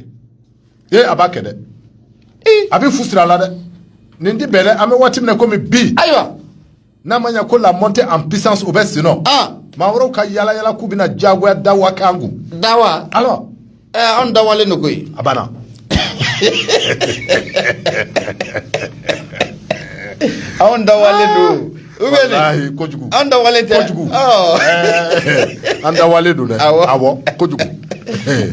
ee a b'a kɛ dɛ a bɛ fu siri a la dɛ nin tɛ bɛn an bɛ waati min na komi bi ayiwa n'a ma ɲɛ ko la montée en puissance o bɛ sen nɔ maa wɛrɛw ka yaala yaala k'u bɛna diyagoya dawa k'an kun dawa An dawalen don koyi a banna anw dawalen don u bɛ kojugu an dawalen tɛ kojugu an dawalen don dɛ kojugu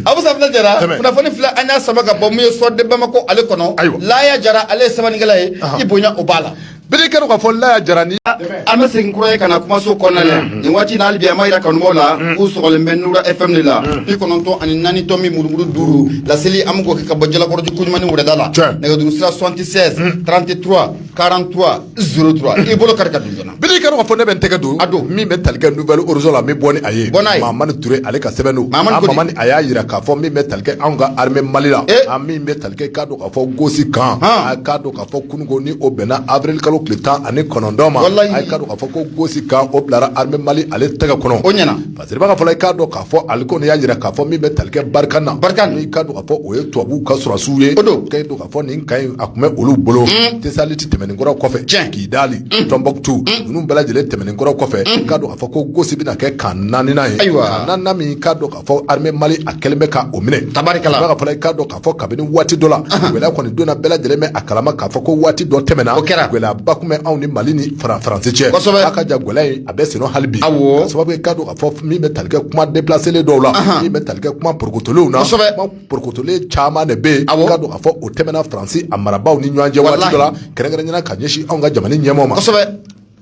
Abu Safunɛ Jara kunnafoni fila an y'a sama ka bɔ min ye Soir de Bamakɔ ale kɔnɔ Laya Jara ale ye sɛbɛnnikɛla ye i bonya o b'a la B'a di i k'a dɔn k'a fɔ Laya Jara ni an bɛ segin kura ye ka na kumaso kɔnɔna la nin waati na hali bi an b'a jira kanubaw la k'u sɔgɔlen bɛ Nura FM de la bi kɔnɔntɔn ani naani tomi murumuru duuru laseli an bɛ k'o kɛ ka bɔ Jalakɔrɔji Kɔɲumani Wɛrɛda la nɛgɛjuru sira soixante-seize trente-trois quarante-trois zéro trois i bolo kari ka don joona b'a di i k'a dɔn k'a fɔ ne bɛ n tɛgɛ don a don min bɛ tali kɛ Nouvel Horizon la min bɔ ni a ye bɔn Mamani Ture ale ka sɛbɛn don Mamani a y'a jira k'a fɔ min bɛ tali kɛ anw ka armée Mali la min bɛ tali kɛ k'a dɔn k'a fɔ Gosi kan ka fɔ kununko ni o bɛnna avril kalo tile tan ani kɔnɔntɔn ma walayi a ye k'a dɔn k'a fɔ ko Gosi kan o bilara armée Mali ale tɛgɛ kɔnɔ o ɲɛna parce que b'a ka fɔ la i k'a dɔn k'a fɔ ale kɔni y'a jira k'a fɔ min bɛ tali kɛ Barkhane na Barkhane i k'a dɔn k'a fɔ o ye tubabuw ka sɔrɔsiw ye o don k'a dɔn k'a fɔ nin kan in a tun bɛ olu bolo Tesaliti tɛmɛnen kɔrɔ kɔfɛ tiɲɛ Kidali Tɔnbɔkutu ninnu bɛɛ lajɛlen tɛmɛnen kɔrɔ kɔfɛ k'a dɔn k'a fɔ ko Gosi bɛna kɛ kan naaninan ye ayiwa kan naaninan min k'a dɔn fɔ armée Mali a kɛlen bɛ ka o minɛ tabarikala a b'a ka fɔ la i k'a dɔn k'a fɔ kabini waati dɔ la gɛlɛya kɔni donna bɛɛ lajɛlen bɛ a kalama k'a fɔ ko waati dɔ tɛmɛna o kɛra gɛlɛyaba tun bɛ anw ni Mali ni Faransi cɛ kosɛbɛ a ka jan gɛlɛya in a bɛ senna hali bi awɔ sababu ye k'a dɔn k'a fɔ min bɛ tali kɛ kuma déplacélen dɔw la min bɛ tali kɛ kuma porokotolenw na kosɛbɛ kuma porokotolen caman de bɛ yen awɔ k'a dɔn k'a fɔ o tɛmɛna Faransi a marabaaw ni ɲɔgɔn cɛ waati dɔ la kɛrɛnkɛrɛnnenya la ka ɲɛsin anw ka jamana ɲɛmaaw ma kosɛbɛ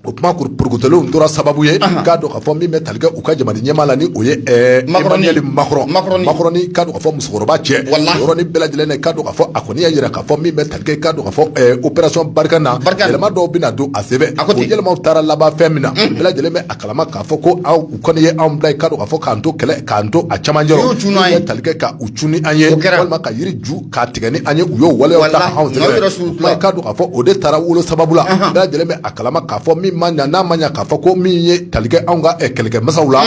o kuma porokotolenw tora sababu ye k'a dɔn k'a fɔ min bɛ tali kɛ u ka jamana ɲɛmaa la ni o ye Emmanuel Makɔrɔnnin k'a dɔn k'a fɔ musokɔrɔba cɛ yɔrɔnin bɛɛ lajɛlen k'a dɔn k'a fɔ a kɔni y'a jira k'a fɔ min bɛ tali kɛ k'a dɔn k'a fɔ opération Barkhane na yɛlɛma dɔw bɛna don a sɛbɛn o yɛlɛmaw taara laban fɛn min na bɛɛ lajɛlen bɛ a kalama k'a fɔ ko u kɔni ye anw bila k'a dɔn k'a fɔ k'an to kɛlɛ k'an to a camancɛ bɛ tali kɛ ka u cun ni an ye walima ka yiri ju K'a tigɛ ni an ye u y'o waleya k'a dɔn k'a fɔ o de taara wolo sababu la bɛɛ lajɛlen bɛ a kalama k'a fɔ min ma ɲa n'a ma ɲa k'a fɔ ko min ye tali kɛ anw ka kɛlɛkɛ masaw la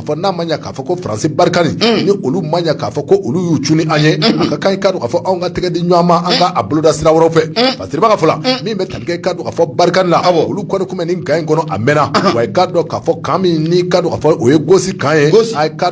fɔ n'a ma ɲa k'a fɔ ko Faransi Barkhane ni olu ma ɲɛ k'a fɔ ko olu y'u cun ni an ye a ka kan k'a dɔn k'a fɔ anw ka tɛgɛ di ɲɔgɔn ma an ka a boloda sira wɛrɛ fɛ parce que b'a ka fɔ la min bɛ tali kɛ k'a dɔn k'a fɔ Barkhane la olu kɔni tun bɛ nin kan in kɔnɔ a mɛnna wa k'a dɔn k'a fɔ kan min k'a dɔn k'a fɔ o ye Gosi kan ye ka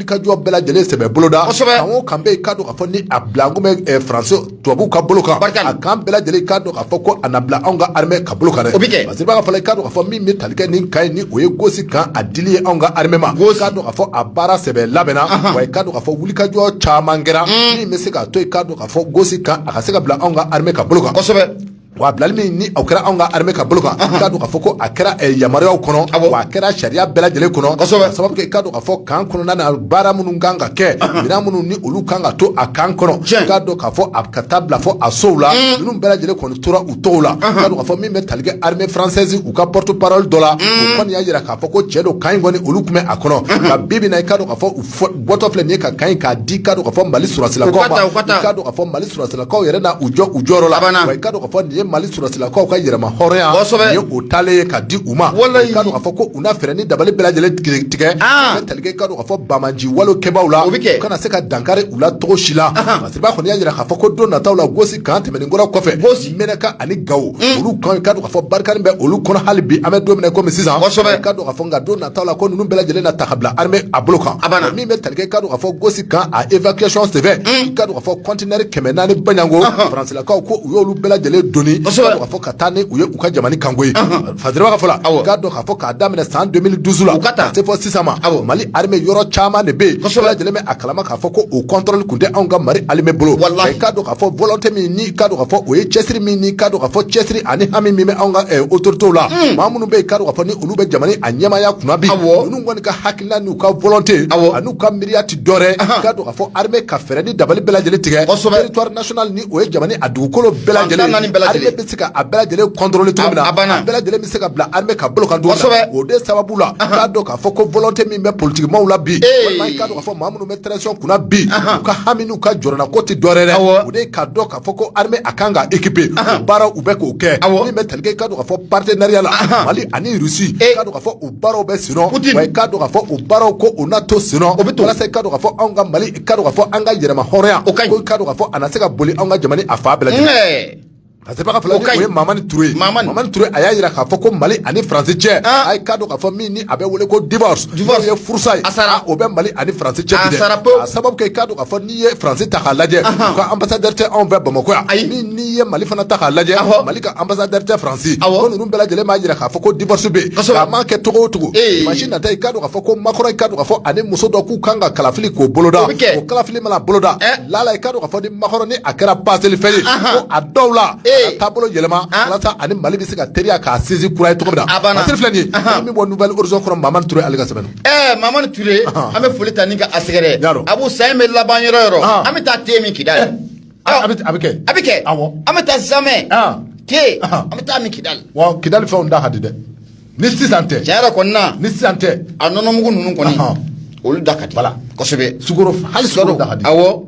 i ka jɔ bɛɛ lajɛlen sɛbɛ boloda kosɛbɛ kan o kan bɛ i ka dɔn k'a fɔ ni a bila kun bɛ eh, faransi tubabuw ka bolo kan Barikali. a kan bɛɛ lajɛlen i ka dɔn k'a fɔ ko a na bila anw ka armée ka bolo kan dɛ O bɛ kɛ. parce que ba ka fɔ la i ka dɔn k'a fɔ min bɛ tali kɛ nin kan ye ni o ye gosi kan a dili ye anw ka armée ma i ka dɔn k'a fɔ a baara sɛbɛ labɛnna wa i ka dɔn k'a fɔ wulikajɔ caman kɛra min bɛ se k'a to i ka dɔn k'a fɔ gosi kan a ka se ka bila anw ka armée ka bolo kan kosɛbɛ Wa bilali min ni a kɛra anw ka armée ka bolo kan k'a dɔn k'a fɔ ko a kɛra yamaruya kɔnɔ a kɛra sariya bɛɛ lajɛlen kɔnɔ sababu i k'a dɔn k'a fɔ kan kɔnɔna baara minnu kan ka kɛ minɛn minnu ni olu kan ka to a kan kɔnɔ k'a dɔn k'a fɔ a ka taa bila fɔ a sow la ninnu bɛɛ lajɛlen kɔni tora u tɔgɔw la k'a dɔn k'a fɔ min bɛ tali kɛ armée française u ka porte-parole dɔ la kɔni y'a jira k'a fɔ ko cɛn don kan in kɔni olu tun bɛ a kɔnɔ nka bi i k'a dɔn k'a fɔ bɔtɔ filɛ nin ye ka kan in k'a di k'a dɔn k'a fɔ mali sɔrɔsilakaw ma k'a dɔn k'a fɔ mali sɔrɔsilakaw yɛrɛ na u jɔ u jɔyɔrɔ la wa i k'a dɔn k'a fɔ nin ye mali sɔrɔsilakaw ka yɛrɛma hɔrɔnya kosɛbɛ nin ye o taalen ye ka di u ma walayi k'a dɔn k'a fɔ ko u na fɛɛrɛ ni dabali bɛɛ lajɛlen tigɛ tigɛ ka tali kɛ k'a dɔn k'a fɔ banbaanci wale kɛbaaw la o bɛ kɛ u kana se ka dankari u la cogo si la parce que ba kɔni y'a jira k'a fɔ ko don nataw la gosi kan tɛmɛnen kɔ o kɔfɛ menaka ani gawo mm. olu kan i k'a dɔn k'a fɔ barikani bɛ olu kɔnɔ hali bi an bɛ don min na kɔmi sisan k'a dɔn k'a fɔ nka don nataw la ko ninnu bɛɛ lajɛlen na ta ka bila armée a bolo kan min bɛ talikɛ k'a dɔn k'a fɔ gosi kan a évacuation senfɛ mm. k'a dɔn k'a fɔ conteneur kɛmɛ naani baɲango faransilakaw ko u y'olu bɛɛ lajɛlen doni k'a dɔn k'a fɔ ka taa ni u ye u ka jamana kan ko ye Fa fɔlɔ'a dɔn k'a fɔ k'a daminɛ san donmini dusu la u ka taa se fɔ sisan ma mali yɔrɔ caman de bɛ yen a kala k'a fɔ ko o kɔntli tun tɛ anw ka mali ali bolo wala ka don ka fɔ bɔlɔtɛ min ka ka fɔ o ye cɛsiri min ka ka fɔ cɛsiri ani hami min bɛ anw ka otote la maa minnu bɛ ka ka fɔ olu bɛ jamana a ɲɛmaya kun bi kɔni ka hakɛ la n'u ka volonté awɔ an'u ka miiriya ti dɔ wɛrɛ i k'a dɔn k'a fɔ armée ka fɛɛrɛ ni dabali bɛɛ lajɛlen tigɛ kosɛbɛ territoire national ni o ye jamana a dugukolo bɛɛ lajɛlen fantan naani bɛɛ lajɛlen armée bɛ se ka a bɛɛ lajɛlen contrôler cogo min na a banna a bɛɛ lajɛlen bɛ se ka bila armée ka bolo kan cogo min na o de sababu la i k'a dɔn k'a fɔ ko volonté min bɛ politique maaw la bi walima i k'a dɔn k'a fɔ maa minnu bɛ transition kunna bi u ka hami n'u ka jɔrɔna ko ti dɔ wɛrɛ dɛ o de ye k'a dɔn k'a fɔ ko armée a kan ka équiper o baara u bɛ k'o kɛ min bɛ tali kɛ i k'a dɔn k'a fɔ partenariat la Mali ani Russie i k'a dɔn k'a fɔ o baaraw bɛ senna wa i k'a dɔn k'a fɔ o baaraw ko o na to senna o bɛ to walasa i k'a dɔn k'a fɔ anw ka mali i k'a dɔn k'a fɔ an ka yɛrɛma hɔrɔnya o ka ɲi k'a dɔn k'a fɔ a na se ka boli anw ka jamana a fan bɛɛ lajɛlen parce que ba ka fɔ la o ye mamani ture ye mamani ture a y'a jira k'a fɔ ko mali ani faransi cɛ ah. a ye k'a dɔn k'a fɔ min ni a bɛ wele ko divorce divorce ye furusa ye a sara o bɛ mali ani faransi cɛ a sara pewu a sababu kɛ i k'a dɔn k'a fɔ i ye France ta k'a lajɛ, anhan, u ka ambassadeur tɛ anw fɛ Bamakɔ yan, ayi, n'i ye Mali fana ta k'a lajɛ, awɔ, Mali ka ambassadeur tɛ France, awɔ, ko ninnu bɛɛ lajɛlen b'a jira k'a fɔ ko divorce bɛ yen, kosɛbɛ, a mana kɛ cogo o cogo, ee, dimanche nata i k'a dɔn k'a fɔ ko Macron i k'a dɔn k'a fɔ ani muso dɔ k'u kan ka kalafili k'o boloda, o bɛ kɛ, o kalafili mana boloda, ɛ, lala i k'a dɔn k'a fɔ ni Macron ni a kɛra passeli fɛn ye, anhan, ko a dɔw la, ee, a ka taabolo yɛlɛma, an, walasa a ni Mali bɛ se ka teriya k'a sinsin kura ye cogo min na, a banna, masiri filɛ nin ye, anhan, an bɛ bɔ Nouvel Horizon kɔnɔ Mamani Ture ale ka sɛbɛn don. Ɛɛ Mamani Ture an bɛ foli ta ni ka a sɛgɛrɛ Abu san in bɛ laban yɔrɔ yɔrɔ an bɛ taa te min Kidali a bɛ kɛ a bɛ kɛ an bɛ taa samɛ te an bɛ taa min Kidali wa Kidali fɛnw da ka di dɛ ni sisan tɛ tiɲɛ yɛrɛ kɔnɔna ni sisan tɛ a nɔnɔmugu ninnu kɔni olu da ka di la kosɛbɛ hali sukaro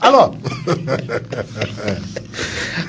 Alors,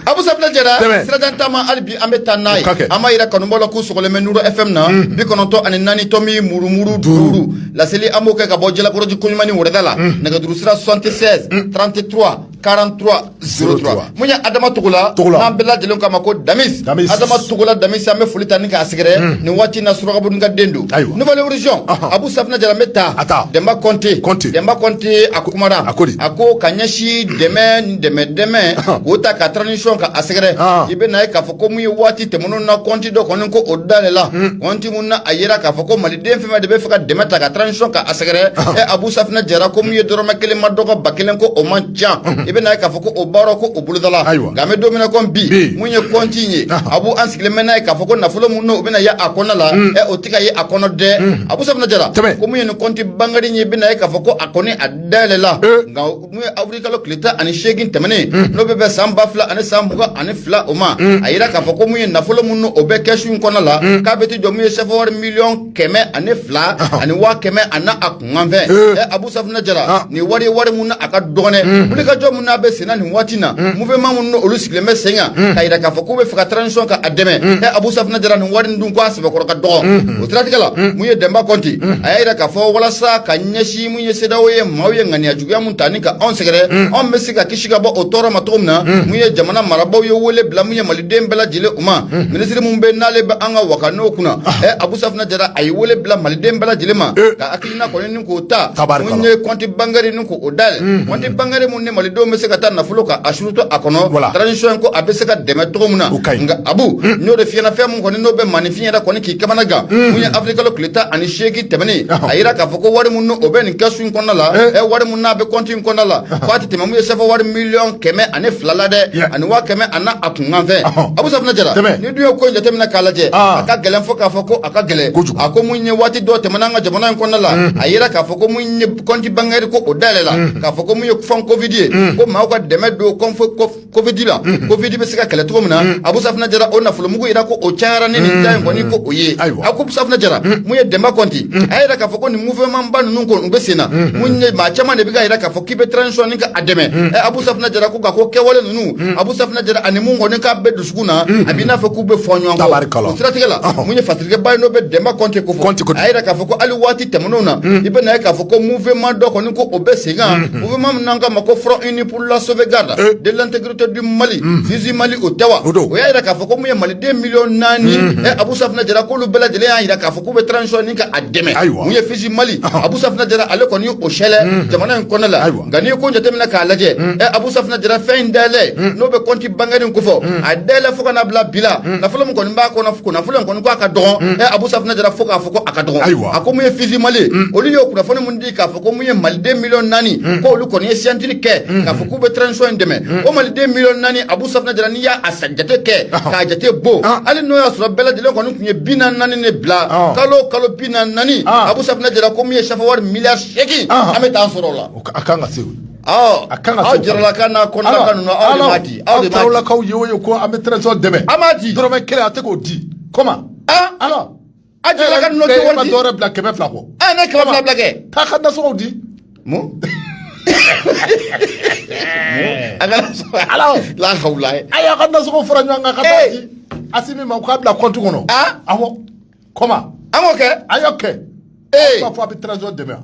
Abu Safinɛ Jara, Dɛmɛ. sirajan taama hali bi an bɛ taa n'a ye. O ka kɛ. An b'a jira kanubaaw la k'u sɔgɔlen bɛ Nuru FM na. Bi kɔnɔntɔn ani naani tɔmi murumuru duuru. Laseli an b'o kɛ ka bɔ Jalakɔrɔji Koɲumani Wɔrɛda la. Nɛgɛjuru sira 76 33 43 03. 03. Mun ye Adama Togola? Togola. N'an bɛɛ lajɛlen k'a ma ko Damis. Damis. Adama Togola Damis an bɛ foli ta ni k'a sɛgɛrɛ. Nin waati in na Surakaboni ka den don. Ayiwa. Nouvel Horizon, Ahan. Abu Safinɛ Jara n bɛ taa. A taa. Dɛnba Kɔnte. Kɔnte. Dɛnba Kɔnte a kumara a ko a ko ka ɲɛsi dɛmɛ ni dɛmɛ dɛmɛ k'o ta ka transition ka a sɛgɛrɛ i bɛ na ye k'a fɔ ko mun ye waati tɛmɛnenw na kɔnti dɔ kɔni ko o dayɛlɛla hmm. kɔnti mun na a yira k'a fɔ ko maliden fɛn fɛn de bɛ fɛ ka dɛmɛ ta ka transition ka a sɛgɛrɛ ɛ abu safinɛ jara ko mun ye dɔrɔmɛ kelen ma dɔgɔ ba kelen ko o man ca hmm. i bɛ na ye k'a fɔ ko o baara ko o bolodala nka an bɛ don min na ko bi mun ye kɔnti in ye abu an sigilen bɛ n'a ye k'a fɔ ko nafolo mun n'o bɛna ye a kɔnɔ la hmm. ɛ o tɛ ka ye a kɔnɔ dɛ abu safinɛ jara ko mun ye nin kɔnti bangɛri ye i bɛ na ye k'a fɔ ko kɔni a dayɛlɛla nka mun ye avril kalo tile tan ani seegin tɛmɛnen n'o bɛ bɛn san ba fila ani san mugan ani fila o ma a yira k'a fɔ ko mun ye nafolo mun n'o bɛ kɛsu in kɔnɔ la k'a bɛ t'i jɔ mun ye sɛfɛwari miliyɔn kɛmɛ ani fila ani waa kɛmɛ an'a kunkanfɛn ɛ abu safunɛ jara nin wari ye wari mun n'a ka dɔgɔn ɛ wulikajɔ mun n'a bɛ senna nin waati na mouvement minnu olu sigilen bɛ sen kan k'a yira k'a fɔ k'u bɛ fɛ ka transition ka a dɛmɛ ɛ abu safunɛ jara nin wari in dun ko a sɛbɛkɔrɔ ka dɔgɔ o siratigɛ la mun ye dɛnba kɔnti a y'a yira k'a fɔ walasa ka ɲɛsin mun ye sedawo ye maaw ye ŋaniya juguya mun ta ni ka anw sɛgɛrɛ mm. anw bɛ se ka kisi ka bɔ o tɔɔrɔ ma cogo min na mm. mun ye jamana marabaaw ye wele bila mun ye maliden bɛɛ lajɛlen u ma mm. minisiri mun bɛ n'ale bɛ an ka waka n'o kunna ɛ ah. eh, abu safinɛ jara a ye wele bila maliden bɛɛ lajɛlen ma eh. ka hakilina kɔni ni k'o ta mun ye kɔnti bangɛri ni k'o dayɛlɛ kɔnti bangɛri ni malidenw bɛ se ka taa nafolo ka a suruto a kɔnɔ Voilà. transition in ko a bɛ se ka dɛmɛ cogo min na O ka ɲi. nka abu n'o de fiyɛna fɛn min kɔni n'o bɛ maaninfin yɛrɛ kɔni k'i kamana gan mun ye avril kalo tile tan ani seegin tɛmɛnen Ahɔ. a yira k'a fɔ ko wari min n'o bɛ nin kɛsu in kɔnɔna la Eh. ɛ wari min n'a bɛ kɔnti in kɔnɔna la ko a tɛ tɛmɛ mun ye sɛfɛ wari miliyɔn kɛmɛ ani fila la dɛ Yeah. ani waa kɛmɛ ani a kunkan fɛn Ahɔ. abu safinɛ jara Tɛmɛ. n'i dun ye ko in jateminɛ k'a lajɛ Ah. a ka gɛlɛn fo k'a fɔ ko a ka gɛlɛn Kojugu. a ko mun ye waati dɔ tɛmɛna an ka jamana in kɔnɔna la a yira k'a fɔ ko mun ye kɔnti bangɛri ko o dayɛlɛ la mm. k'a fɔ ko mun ye fonds covid ye mm. ko maaw ka dɛmɛ don kɔnti fonds covid la mm. covid bɛ se ka kɛlɛ cogo min na abu safinɛ jara o nafolomugu yira ko o cayara ni nin da in kɔni ko o ye a ko abu safinɛ jara mun ye dɛnba kɔnti a y'a yira k'a fɔ ko nin mouvement ba ninnu kɔni u bɛ sen na mun ye maa caman de bɛ ka yira k'a fɔ k'i bɛ transition ni ka a dɛmɛ ɛ abu safinɛ jara ko ka ko kɛwale ninnu abu safinɛ jara ani mun kɔni k'a bɛ dusu tugun na a b'i n'a fɔ k'u bɛ fɔ ɲɔgɔn kɔ tabarikala o siratigɛ la mun ye fasirikɛba in n'o bɛ Dɛnba Kɔnte ko fɔ a yira k'a fɔ ko hali waati tɛmɛnenw na i bɛ na ye k'a fɔ ko mouvement dɔ kɔni ko o bɛ sen kan mouvement min n'an k'a ma ko front uni pour la sauvegarde de l'intégrité du Mali FUSI Mali o tɛ wa o y'a yira k'a fɔ ko mun ye maliden miliyɔn naani ɛ Abu Safinɛ Jara k'olu bɛɛ lajɛlen y'a yira k'a fɔ k'u bɛ transition in ka a dɛmɛ mun ye FUSI Mali Abu Safinɛ Jara ale kɔni ye o sɛlɛ jamana in kɔnɔ la nka n'i ye ko jateminɛ k'a lajɛ ɛ Abu Safinɛ Jara fɛn in dayɛlɛ n'o bɛ compte bancaire in kofɔ mm. a dayɛlɛ fo ka na bila bi la mm. nafolo min kɔni b'a kɔnɔ ko nafolo in kɔni ko a ka dɔgɔn ɛ mm. eh, abu safinɛ jara fo k'a fɔ ko a ka dɔgɔn a ko mun ye FUSI mali olu y'o kunnafoni min di k'a fɔ ko mun ye maliden miliyɔn naani ko olu kɔni ye signature kɛ k'a fɔ k'u bɛ transition in dɛmɛ o maliden miliyɔn naani abu safinɛ jara n'i y'a jate kɛ k'a jate bɔ ah. hali n'o y'a sɔrɔ bɛɛ lajɛlen kɔni tun ye bi naani naani de bila ah. kalo kalo bi naani naani ah. abu safinɛ jara ko mun ye sefawari miliyari seegin an bɛ taa sɔrɔ o la a kan ka se A kan aw jaralakaw n'a ko di aw taralakaw ye o ye ko an bɛ transition dɛmɛ an m'a di dɔrɔmɛ kelen a tɛ k'o di comment alors a jaralakaw dɔwɛrɛ bila kɛmɛ fila kɔ a ne kɛmɛ fila bila kɛ t'a ka nasɔngɔ di alakaw la a y'a ka nasɔngɔ fara ɲɔgɔn kan ka taa di Asimi ma k'a bila compte kɔnɔ a comment an k'o kɛ a y'o kɛ ee b'a fɔ a bɛ transition dɛmɛ wa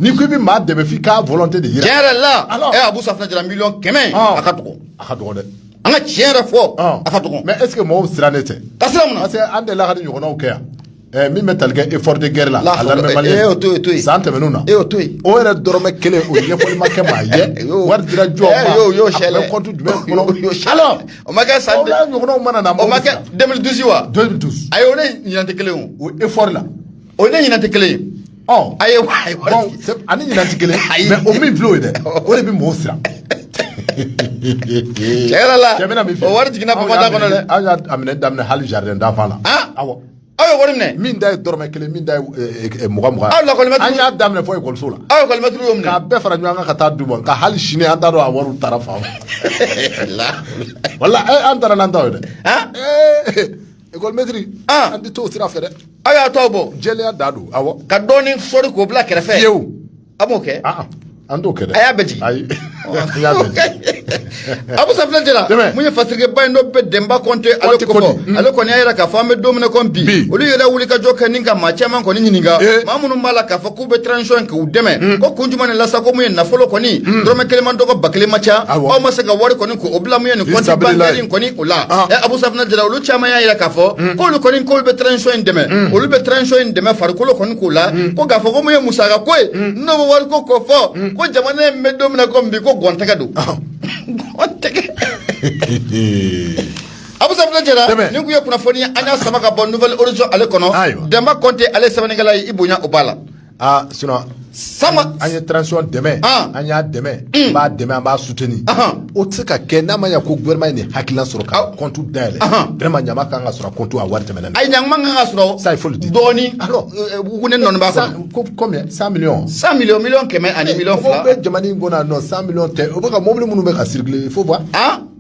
n'i ko i bɛ maa dɛmɛ f'i k'a volonté de yira tiɲɛ yɛrɛ la Alors? ɛ abu safinɛ jara miliyɔn kɛmɛ Ɔn. a ka dɔgɔ a ka dɔgɔ dɛ an ka tiɲɛ yɛrɛ fɔ Ɔn. a ka dɔgɔ mais est ce que mɔgɔw sirannen tɛ ka sira mun na parce que an delila ka nin ɲɔgɔnnaw kɛ yan ɛɛ min bɛ tali kɛ effort de guerre la La a hawla- l'armée malienne e y'o to yen, to yen. san tɛmɛnenw na E y'o to yen. o yɛrɛ dɔrɔmɛ kelen o ɲɛfɔli ma kɛ maa ye E y'o- wari dira jɔn E ma y'o- y'o a sɛlɛ. bɛ compte jumɛn E y'o- y'o kɔnɔ sɛlɛ. alors o ma kɛ san ɲɔgɔnnaw mana na o ma kɛ 2012 wa 2012 ayi o ni ɲinan tɛ kelen ye o effort la o ni ɲinan tɛ kelen ye ɔ ayi ayi a ni ɲinan tɛ kelen ye mais o min filɛ o ye dɛ o de bɛ mɔgɔw siran tiɲɛ yɛrɛ la o wari jiginna bama da kɔnɔ dɛ an y'a minɛ daminɛ hali jardin d'enfant la awɔ Aw ye wari minɛ min da ye dɔrɔmɛ kelen min da ye eh, eh, eh, mugan mugan aw lakɔlimɛtiri an y'a daminɛ fo ekɔliso la aw lakɔlimɛtiri y'o minɛ k'a bɛɛ fara ɲɔgɔn kan ka taa d'u ma nka hali sini an t'a dɔn a wariw taara fan min wala an taara n'an ta ye dɛ ekɔlimɛtiri an tɛ t'o sira fɛ dɛ aw y'a tɔ bɔ jɛlenya da don awɔ ka dɔɔnin sɔri k'o bila kɛrɛfɛ fiyewu a m'o kɛ ah, ah. an t'o kɛ dɛ a y'a bɛɛ jigin ayi an y'a bɛɛ jigin abu safinɛ jara mun ye fasirikɛba in n'o bɛ dɛnba kɔnte ale kɔfɔ mm. ale kɔni y'a yira k'a fɔ an bɛ don min na ko bi olu yɛrɛ wulikajɔ kɛ ni ka maa caman kɔni ɲininka eh. maa minnu b'a la k'a fɔ k'u bɛ transition k'u dɛmɛ mm. ko kun jumɛn de la sa ko mun ye nafolo kɔni mm. dɔrɔmɛ kelen man dɔgɔ ba kelen man ca aw ma se ka wari kɔni O bila mun ye nin compte bancaire in kɔni o la ɛ abu safunɛ jara olu caman y'a jira k'a fɔ k'olu kɔni k'olu bɛ transition in dɛmɛ olu bɛ transition in dɛmɛ farikolo kɔni k'u la ko k'a fɔ ko mun ye musaka ko ye n'o bɛ wari ko k'o fɔ ko jamana in bɛ don min na bi ko gɔntɛgɛ don abu safunɛ jara nin kun ye kunnafoni an y'a sama ka bɔ Nouvel Horizon ale kɔnɔ dɛnba kɔnte ale sɛbɛnnikɛla ye i bonya o b'a la Aa su san an ye transiɔn dɛmɛ an y'a dɛmɛ b'a dɛmɛ an b'a suteni o tɛ se ka kɛ n'a ma ya ko vma ye nin hakilila sɔrɔ ka kɔntu da yɛlɛ dma ɲama kan ka sɔrɔ kotu a wari tɛmɛɛna a ɲa kan ka sɔrɔ sa foli di dɔɔnin ne nɔnba sa ko kɔmi sa sa mi kɛmɛ ani mi fila bɛ jamana in kɔnɔ nɔ sa mi tɛ o bɛ ka mobili minnu bɛ ka siri fo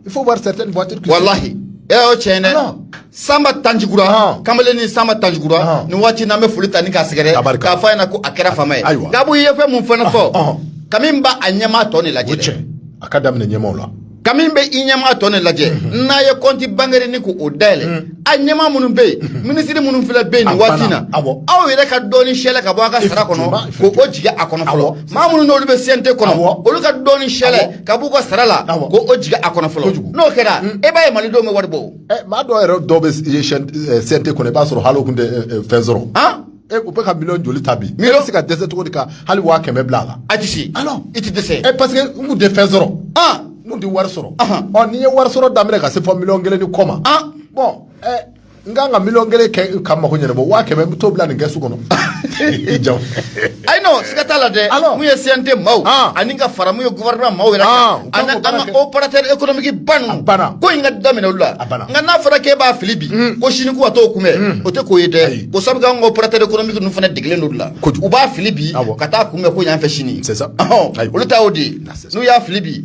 fo wari tɛ tɛ walahi e y'o cɛ dɛ sanba tanjikura ah. kamalen ni sanba tanjikura ah. nin waati n'an bɛ foli ta ni k'a sɛgɛrɛ k'a fɔ a ɲɛna ko a kɛra faama ye gabu i ye fɛn mun fana fɔ ah, kami b'a a ɲɛmaa tɔn de lajɛ dɛ a ka daminɛ ɲɛmaaw la kami bɛ i ɲɛmaa tɔn de lajɛ mm-hmm. n'a ye compte bancaire nin k'o dayɛlɛ mm. a ɲɛmaa minnu bɛ yen mm-hmm. minisiri minnu filɛ bɛ yen nin waati in na aw yɛrɛ ka dɔɔni sɛlɛ ka bɔ a ka sara kɔnɔ k'o jigin a kɔnɔ fɔlɔ maa minnu n'olu bɛ CNT kɔnɔ olu ka dɔɔni sɛlɛ ka b'u ka sara la k'o jigin a kɔnɔ fɔlɔ n'o kɛra mm. e b'a ye malidenw bɛ wari bɔ maa dɔw yɛrɛ dɔw bɛ CNT kɔnɔ i b'a sɔrɔ hali o kun tɛ fɛn sɔrɔ e u bɛ ka miliyɔn joli ta bi i bɛ se ka dɛsɛ cogo di ka hali waa kɛmɛ bila a la a tɛ se alors i tɛ dɛsɛ e parce que n kun tɛ fɛn sɔrɔ n kun tɛ wari sɔrɔ ɔ n'i ye wari sɔrɔ daminɛ ka se fo miliyɔn kelen ni kɔ ma bon n ka kan ka miliyɔn kelen kɛ ka n mako ɲɛnabɔ waa kɛmɛ n bɛ t'o bila nin kɛsu kɔnɔ i ja ayi non siga t'a la dɛ mun ye CNT maaw ani ka fara mun ye gouvernement maaw yɛrɛ kan an ka opérateur économique ba ninnu ko in ka daminɛ olu la nka n'a fɔra k'e b'a fili bi mm. ko sini ka t'o kunbɛn mm. o tɛ ko ye dɛ ko sabu k'an ka opérateur économique ninnu fana degelen don o la u b'a fili bi ka t'a kunbɛn ko ɲɛ fɛ sini olu ta y'o de ye n'u y'a fili bi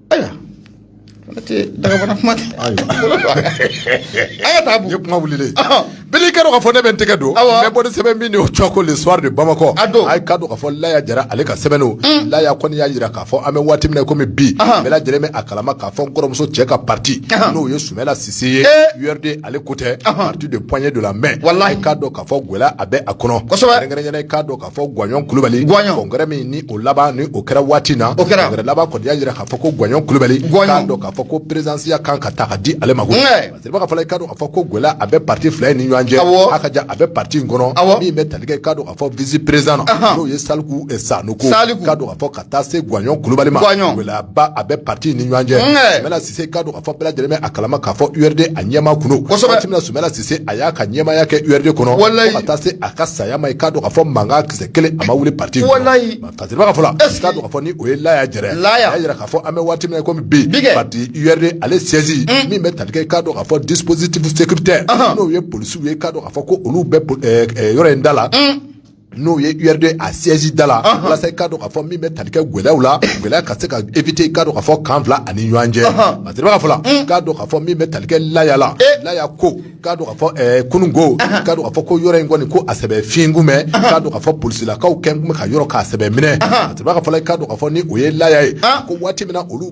ayiwa ala tɛ dagabana kuma tɛ an ka taa ye kuma wuli bele ka ka fɔ ne bɛ n tɛgɛ don n bɛ bɔ ni sɛbɛn min ye o cɔ ko le soir de bamakɔ a ye k'a dɔn k'a fɔ laya jara ale ka sɛbɛn mm. laya kɔni y'a jira k'a fɔ an bɛ waati min na kɔmi bi bɛɛ lajɛlen b'a kalama k'a fɔ n kɔrɔmuso cɛ ka pati n'o ye sumayila sise ye URD ale ko tɛ parti de poignée de la main a ye k'a dɔn k'a fɔ gɛlɛya a bɛ a kɔnɔ k'a a fɔ gwaɲɔn kulubali congrès min ni o laban ni o kɛra waati na congrès laban kɔni y'a jira k'a fɔ ko gwaɲɔn kulubali k'a dɔn k'a fɔ ko perezidansiya kan ka taa ka di ale ma ko ka fana i k'a dɔn k'a fɔ ko gɛlɛya a bɛ pati fila ni ɲɔgɔn cɛ a ka ja a bɛ pati in kɔnɔ min bɛ tali kɛ k'a dɔn k'a fɔ vice président na n'o ye saliku ye sa k'a dɔn k'a fɔ ka taa se gwanɲɔn kulubali ma gɛlɛyaba a bɛ pati ni ɲɔgɔn cɛ sumala sise k'a dɔn k'a fɔ bɛɛ lajɛlen bɛ a kalama k'a fɔ urd a ɲɛmaa kun don kosɛbɛ waati min na sumala sise a y'a ka ɲɛmaya kɛ urd kɔnɔ fo ka taa se a ka saya ma i k'a dɔn k'a fɔ mankan kisɛ kelen a ma wuli pati in kɔnɔ tatiriba ka fɔ la k'a dɔn k'a fɔ ni o ye laya jara a y'a jira k'a fɔ an bɛ waati min na komi bi pati urd ale siège min bɛ tali kɛ k'a dɔn k'a fɔ dispositif sécuritaire n'o ye polisiw ye k'a dɔn k'a fɔ ko olu bɛ yɔrɔ in da la n'o ye urd a siège da la walasa i k'a dɔn k'a fɔ min bɛ tali kɛ gɛlɛyaw la gɛlɛya ka se ka éviter i k'a dɔn k'a fɔ kan fila ani ɲɔgɔn cɛ parce que ka fɔ la k'a dɔn k'a fɔ min bɛ tali kɛ laya la laya ko k'a dɔn k'a fɔ ɛɛ kunun ko k'a dɔn k'a fɔ ko yɔrɔ in kɔni ko a sɛbɛ fiɲɛ kun bɛ k'a dɔn k'a fɔ polisilakaw kɛ kun bɛ ka yɔrɔ k'a sɛbɛ minɛ parce que ka fɔ la i k'a dɔn k'a fɔ ni o ye laya ye ko waati min na olu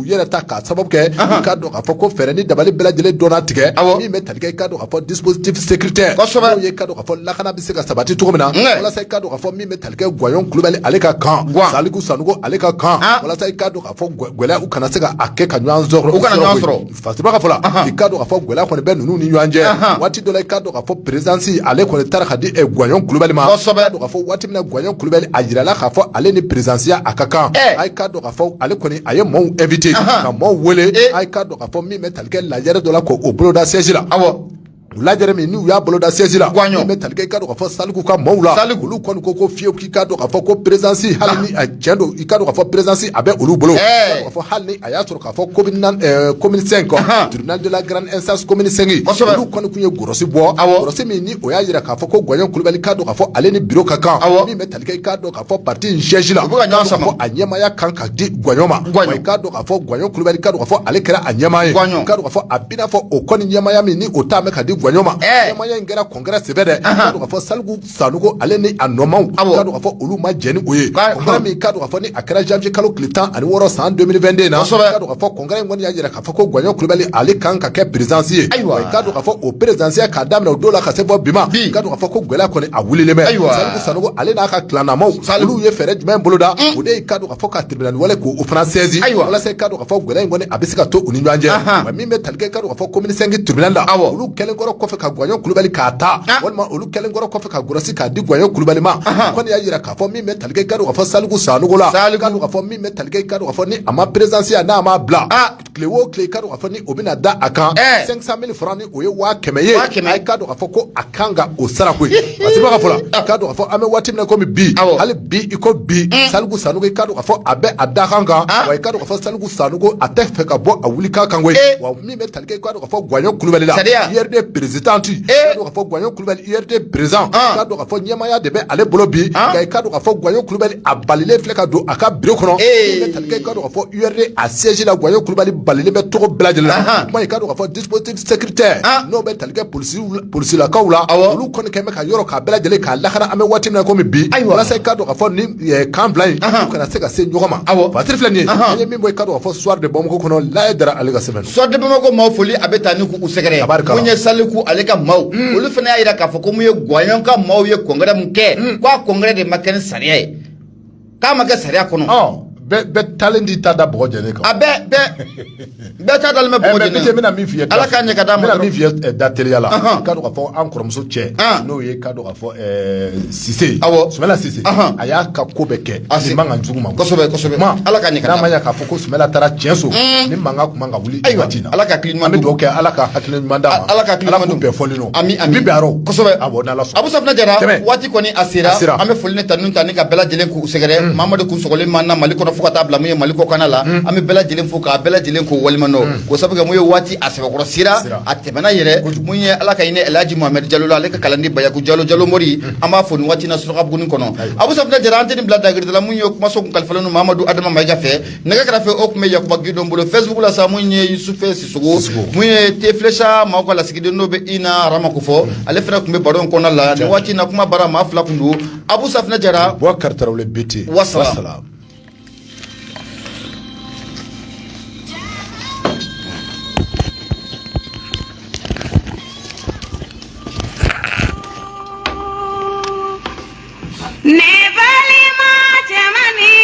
u yɛrɛ ta k'a sababu kɛ k'a dɔn k'a fɔ ko fɛɛrɛ ni dabali bɛɛ lajɛlen dɔnna tigɛ min bɛ tali kɛ i k'a dɔn k'a fɔ dispositif sécuritaire n'o ye i k'a dɔn k'a fɔ lakana bɛ se ka sabati cogo min na walasa i k'a dɔn k'a fɔ min bɛ tali kɛ Gwanɲɔn Kulubali ale ka kan Saliku Sanogo ale ka kan walasa i k'a dɔn k'a fɔ gɛlɛya u kana se ka a kɛ ka ɲɔgɔn sɔrɔ u kana ɲɔgɔn sɔrɔ Fatiba ka fɔ la i k'a dɔn k'a fɔ gɛlɛya kɔni bɛ ninnu ni ɲɔgɔn cɛ waati dɔ la i k'a dɔn k'a fɔ présidence ale kɔni taara ka di Gwanɲɔn Kulubali ma k'a dɔn k'a fɔ waati min na Gwanɲɔn Kulubali a jirala k'a fɔ ale ni présidenceya a ka kan a ye k'a dɔn ale kɔni a ye maaw vte ka maaw weele a ka dɔn k'a fɔ min bɛ talikɛ lajɛ dɔ la ko o boloda sɛji la aw la min n'u y'a boloda sɛji la bɛ talikɛ ka fɔ saliku ka maaw la sali olu kɔni ko ko fiyewu k'i ka k'a fɔ ko perezsi hali cɛn don i ka k'a fɔ perezsi a bɛ olu bolo k'a fɔ hali a y'a sɔrɔ k'a fɔ ko kɔmimini kɔdla garanzsɛgin olu kɔni tun ye gsi bɔ a min o y'a jira k'a fɔ ko gɔni kulubali ka don k'a fɔ ale ni bi ka kan k'a dɔn k'a fɔ pati in siège la k'a fɔ a ɲɛmaya kan ka di gwanɲɔn ma k'a dɔn k'a fɔ gwanɲɔn kulubali k'a dɔn k'a fɔ ale kɛra a ɲɛmaa ye k'a dɔn k'a fɔ a b'i n'a fɔ o kɔni ɲɛmaya min ni o t'a mɛn ka di gwanɲɔn ma ɲɛmaya in kɛra congrès senfɛ dɛ k'a dɔn k'a fɔ saliku sanogo ale ni a nɔmaw k'a dɔn k'a fɔ olu ma jɛn ni o ye congrès min k'a dɔn k'a fɔ ni a kɛra janvier kalo tile tan ani wɔɔrɔ san 2022 na k'a dɔn k'a fɔ congrès in kɔni y'a jira A fɔ ko gwanɲɔn kulubali ale kan ka kɛ président ye wa k'a dɔn k'a fɔ o présidenceya k'a daminɛ o don la ka se fo bi ma k'a dɔn k'a fɔ ko gɛlɛya kɔni a wulilen bɛ saliku sanogo ale n'a ka kilannamaw olu ye fɛɛrɛ jumɛn boloda o de ye k'a dɔn k'a fɔ ka tribunal wele k'o fana saisi walasa k'a dɔn k'a fɔ gɛlɛya in kɔni a bɛ se ka to u ni ɲɔgɔn cɛ min bɛ tali kɛ k'a dɔn k'a fɔ commune cinq tribunal la olu kɛlen kɔrɔ kɔfɛ ka gwanɲɔn kulubali k'a ta walima olu kɛlen kɔrɔ kɔfɛ ka gɔrɔsi k'a di gwanɲɔn kulubali ma kɔni y'a jira k'a fɔ min bɛ tali kɛ k'a dɔn k'a fɔ saliku sanogo la ka fɔ min bɛ tali kɛ i k'a dɔn k'a fɔ ni a ma présidenceya n'a ma bila a tile o tile i k'a dɔn k'a fɔ ni o bɛna da a kan cinq cent mille francs ni o ye waa kɛmɛ ye a i k'a dɔn k'a fɔ ko a kan ka o sara koyi a sɛbɛn ka fɔ la i k'a dɔn k'a fɔ an bɛ waati min na komi bi hali bi i ko bi saliku sanogo i k'a dɔn k'a fɔ a bɛ a da kan kan wa i k'a dɔn k'a fɔ saliku sanogo a tɛ fɛ ka bɔ a wuli kan kan koyi wa min bɛ tali kɛ i k'a dɔn ka fɔ gwaɲɔn kulubali la sariya URD président ee ka fɔ gwaɲɔn kulubali URD président k'a dɔn ka fɔ ɲɛmaaya de bɛ ale bolo bi nka i k'a dɔn ka fɔ gwaɲɔn kulubali a balilen filɛ ka don a ka bureau kɔnɔ min bɛ tali kɛ i k'a dɔn ka fɔ URD a siège la gwaɲɔn kulubali balilen bɛ tɔgɔ bɛɛ lajɛlen la kuma i k'a dɔn ka fɔ dispositif sécuritaire n'o bɛ tali kɛ polisi polisilakaw la olu kɔni kɛlen bɛ ka yɔrɔ k'a bɛɛ lajɛlen k'a lakana an bɛ waati min na komi bi walasa i k'a dɔn ka fɔ nin kan fila in kana se ka se ɲɔgɔn ma aw ba filɛ nin ye an ye min bɔ i k'a dɔn ka fɔ soir de bamakɔ kɔnɔ laye dara ale ka sɛbɛn soir de bamakɔ maaw foli a bɛ taa ni k'u sɛgɛrɛ ko ye saliku ale ka maaw hmm. olu fana y'a jira k'a fɔ ko mun ye gwaɲɔn ka maaw ye congrès min kɛ hmm. k'a congrès de ma kɛ ni sariya ye k'a ma kɛ sariya kɔnɔ bɛɛ taalen di ta da bɔgɔ jɛ kan a bɛɛ bɛɛ Bɛɛ ta dalen bɛ bɔ bɛna min fi ala ka ɲɛ ka da min fi da teliya la i k'a dɔn ka fɔ an kɔrɔmuso cɛ n'o ye i k'a dɔn ka fɔ sise sumayila sise a y'a ka ko bɛɛ kɛ ni mankan jugu ma kosɛbɛ ala ka ɲɛ k'a fɔ ko sumayila taara tiɲɛso ni mankan kun man kan ka wuli ayiwa an bɛ dugawu kɛ ala ka hakili ɲuman d'an ma ala ka bɛɛ fɔ ami ami bi aro kosɛbɛ awɔ n'ala sɔnna abu safina jara waati kɔni a sera an bɛ foli ni tanun ta ni ka bɛɛ lajɛlen k'u sɛgɛrɛ mamadu kun sɔgɔlen b'an na mali kɔnɔ fo ka taa bila mun ye mali kɔkana la an bɛ bɛɛ lajɛlen fo k'a bɛɛ lajɛlen k'u waleɲumandɔn ko sabu kɛ mun ye waati a sɛbɛkɔrɔ sera a tɛmɛna yɛrɛ mun ye ala ka hinɛ elhaji mohamɛdi jalo la ale ka kalanden bayaku jalo jalo mori an b'a fo nin waati na suraka buguni kɔnɔ abu safina jara an tɛ nin bila dagiridala mun ye kumaso kun kalifalen don mamadu adama mayiga fɛ nɛgɛ karafe o kun bɛ yakuba gindo bolo facebook la sa mun ye yusufe sisogo mun ye tefilesa maaw ka lasigiden n'o bɛ i na arama ko fɔ ale fana kun bɛ baro in kɔnɔna la nin waati na kuma bara maa fila kun don abu safinɛ jara bubakari tarawele BT wasalam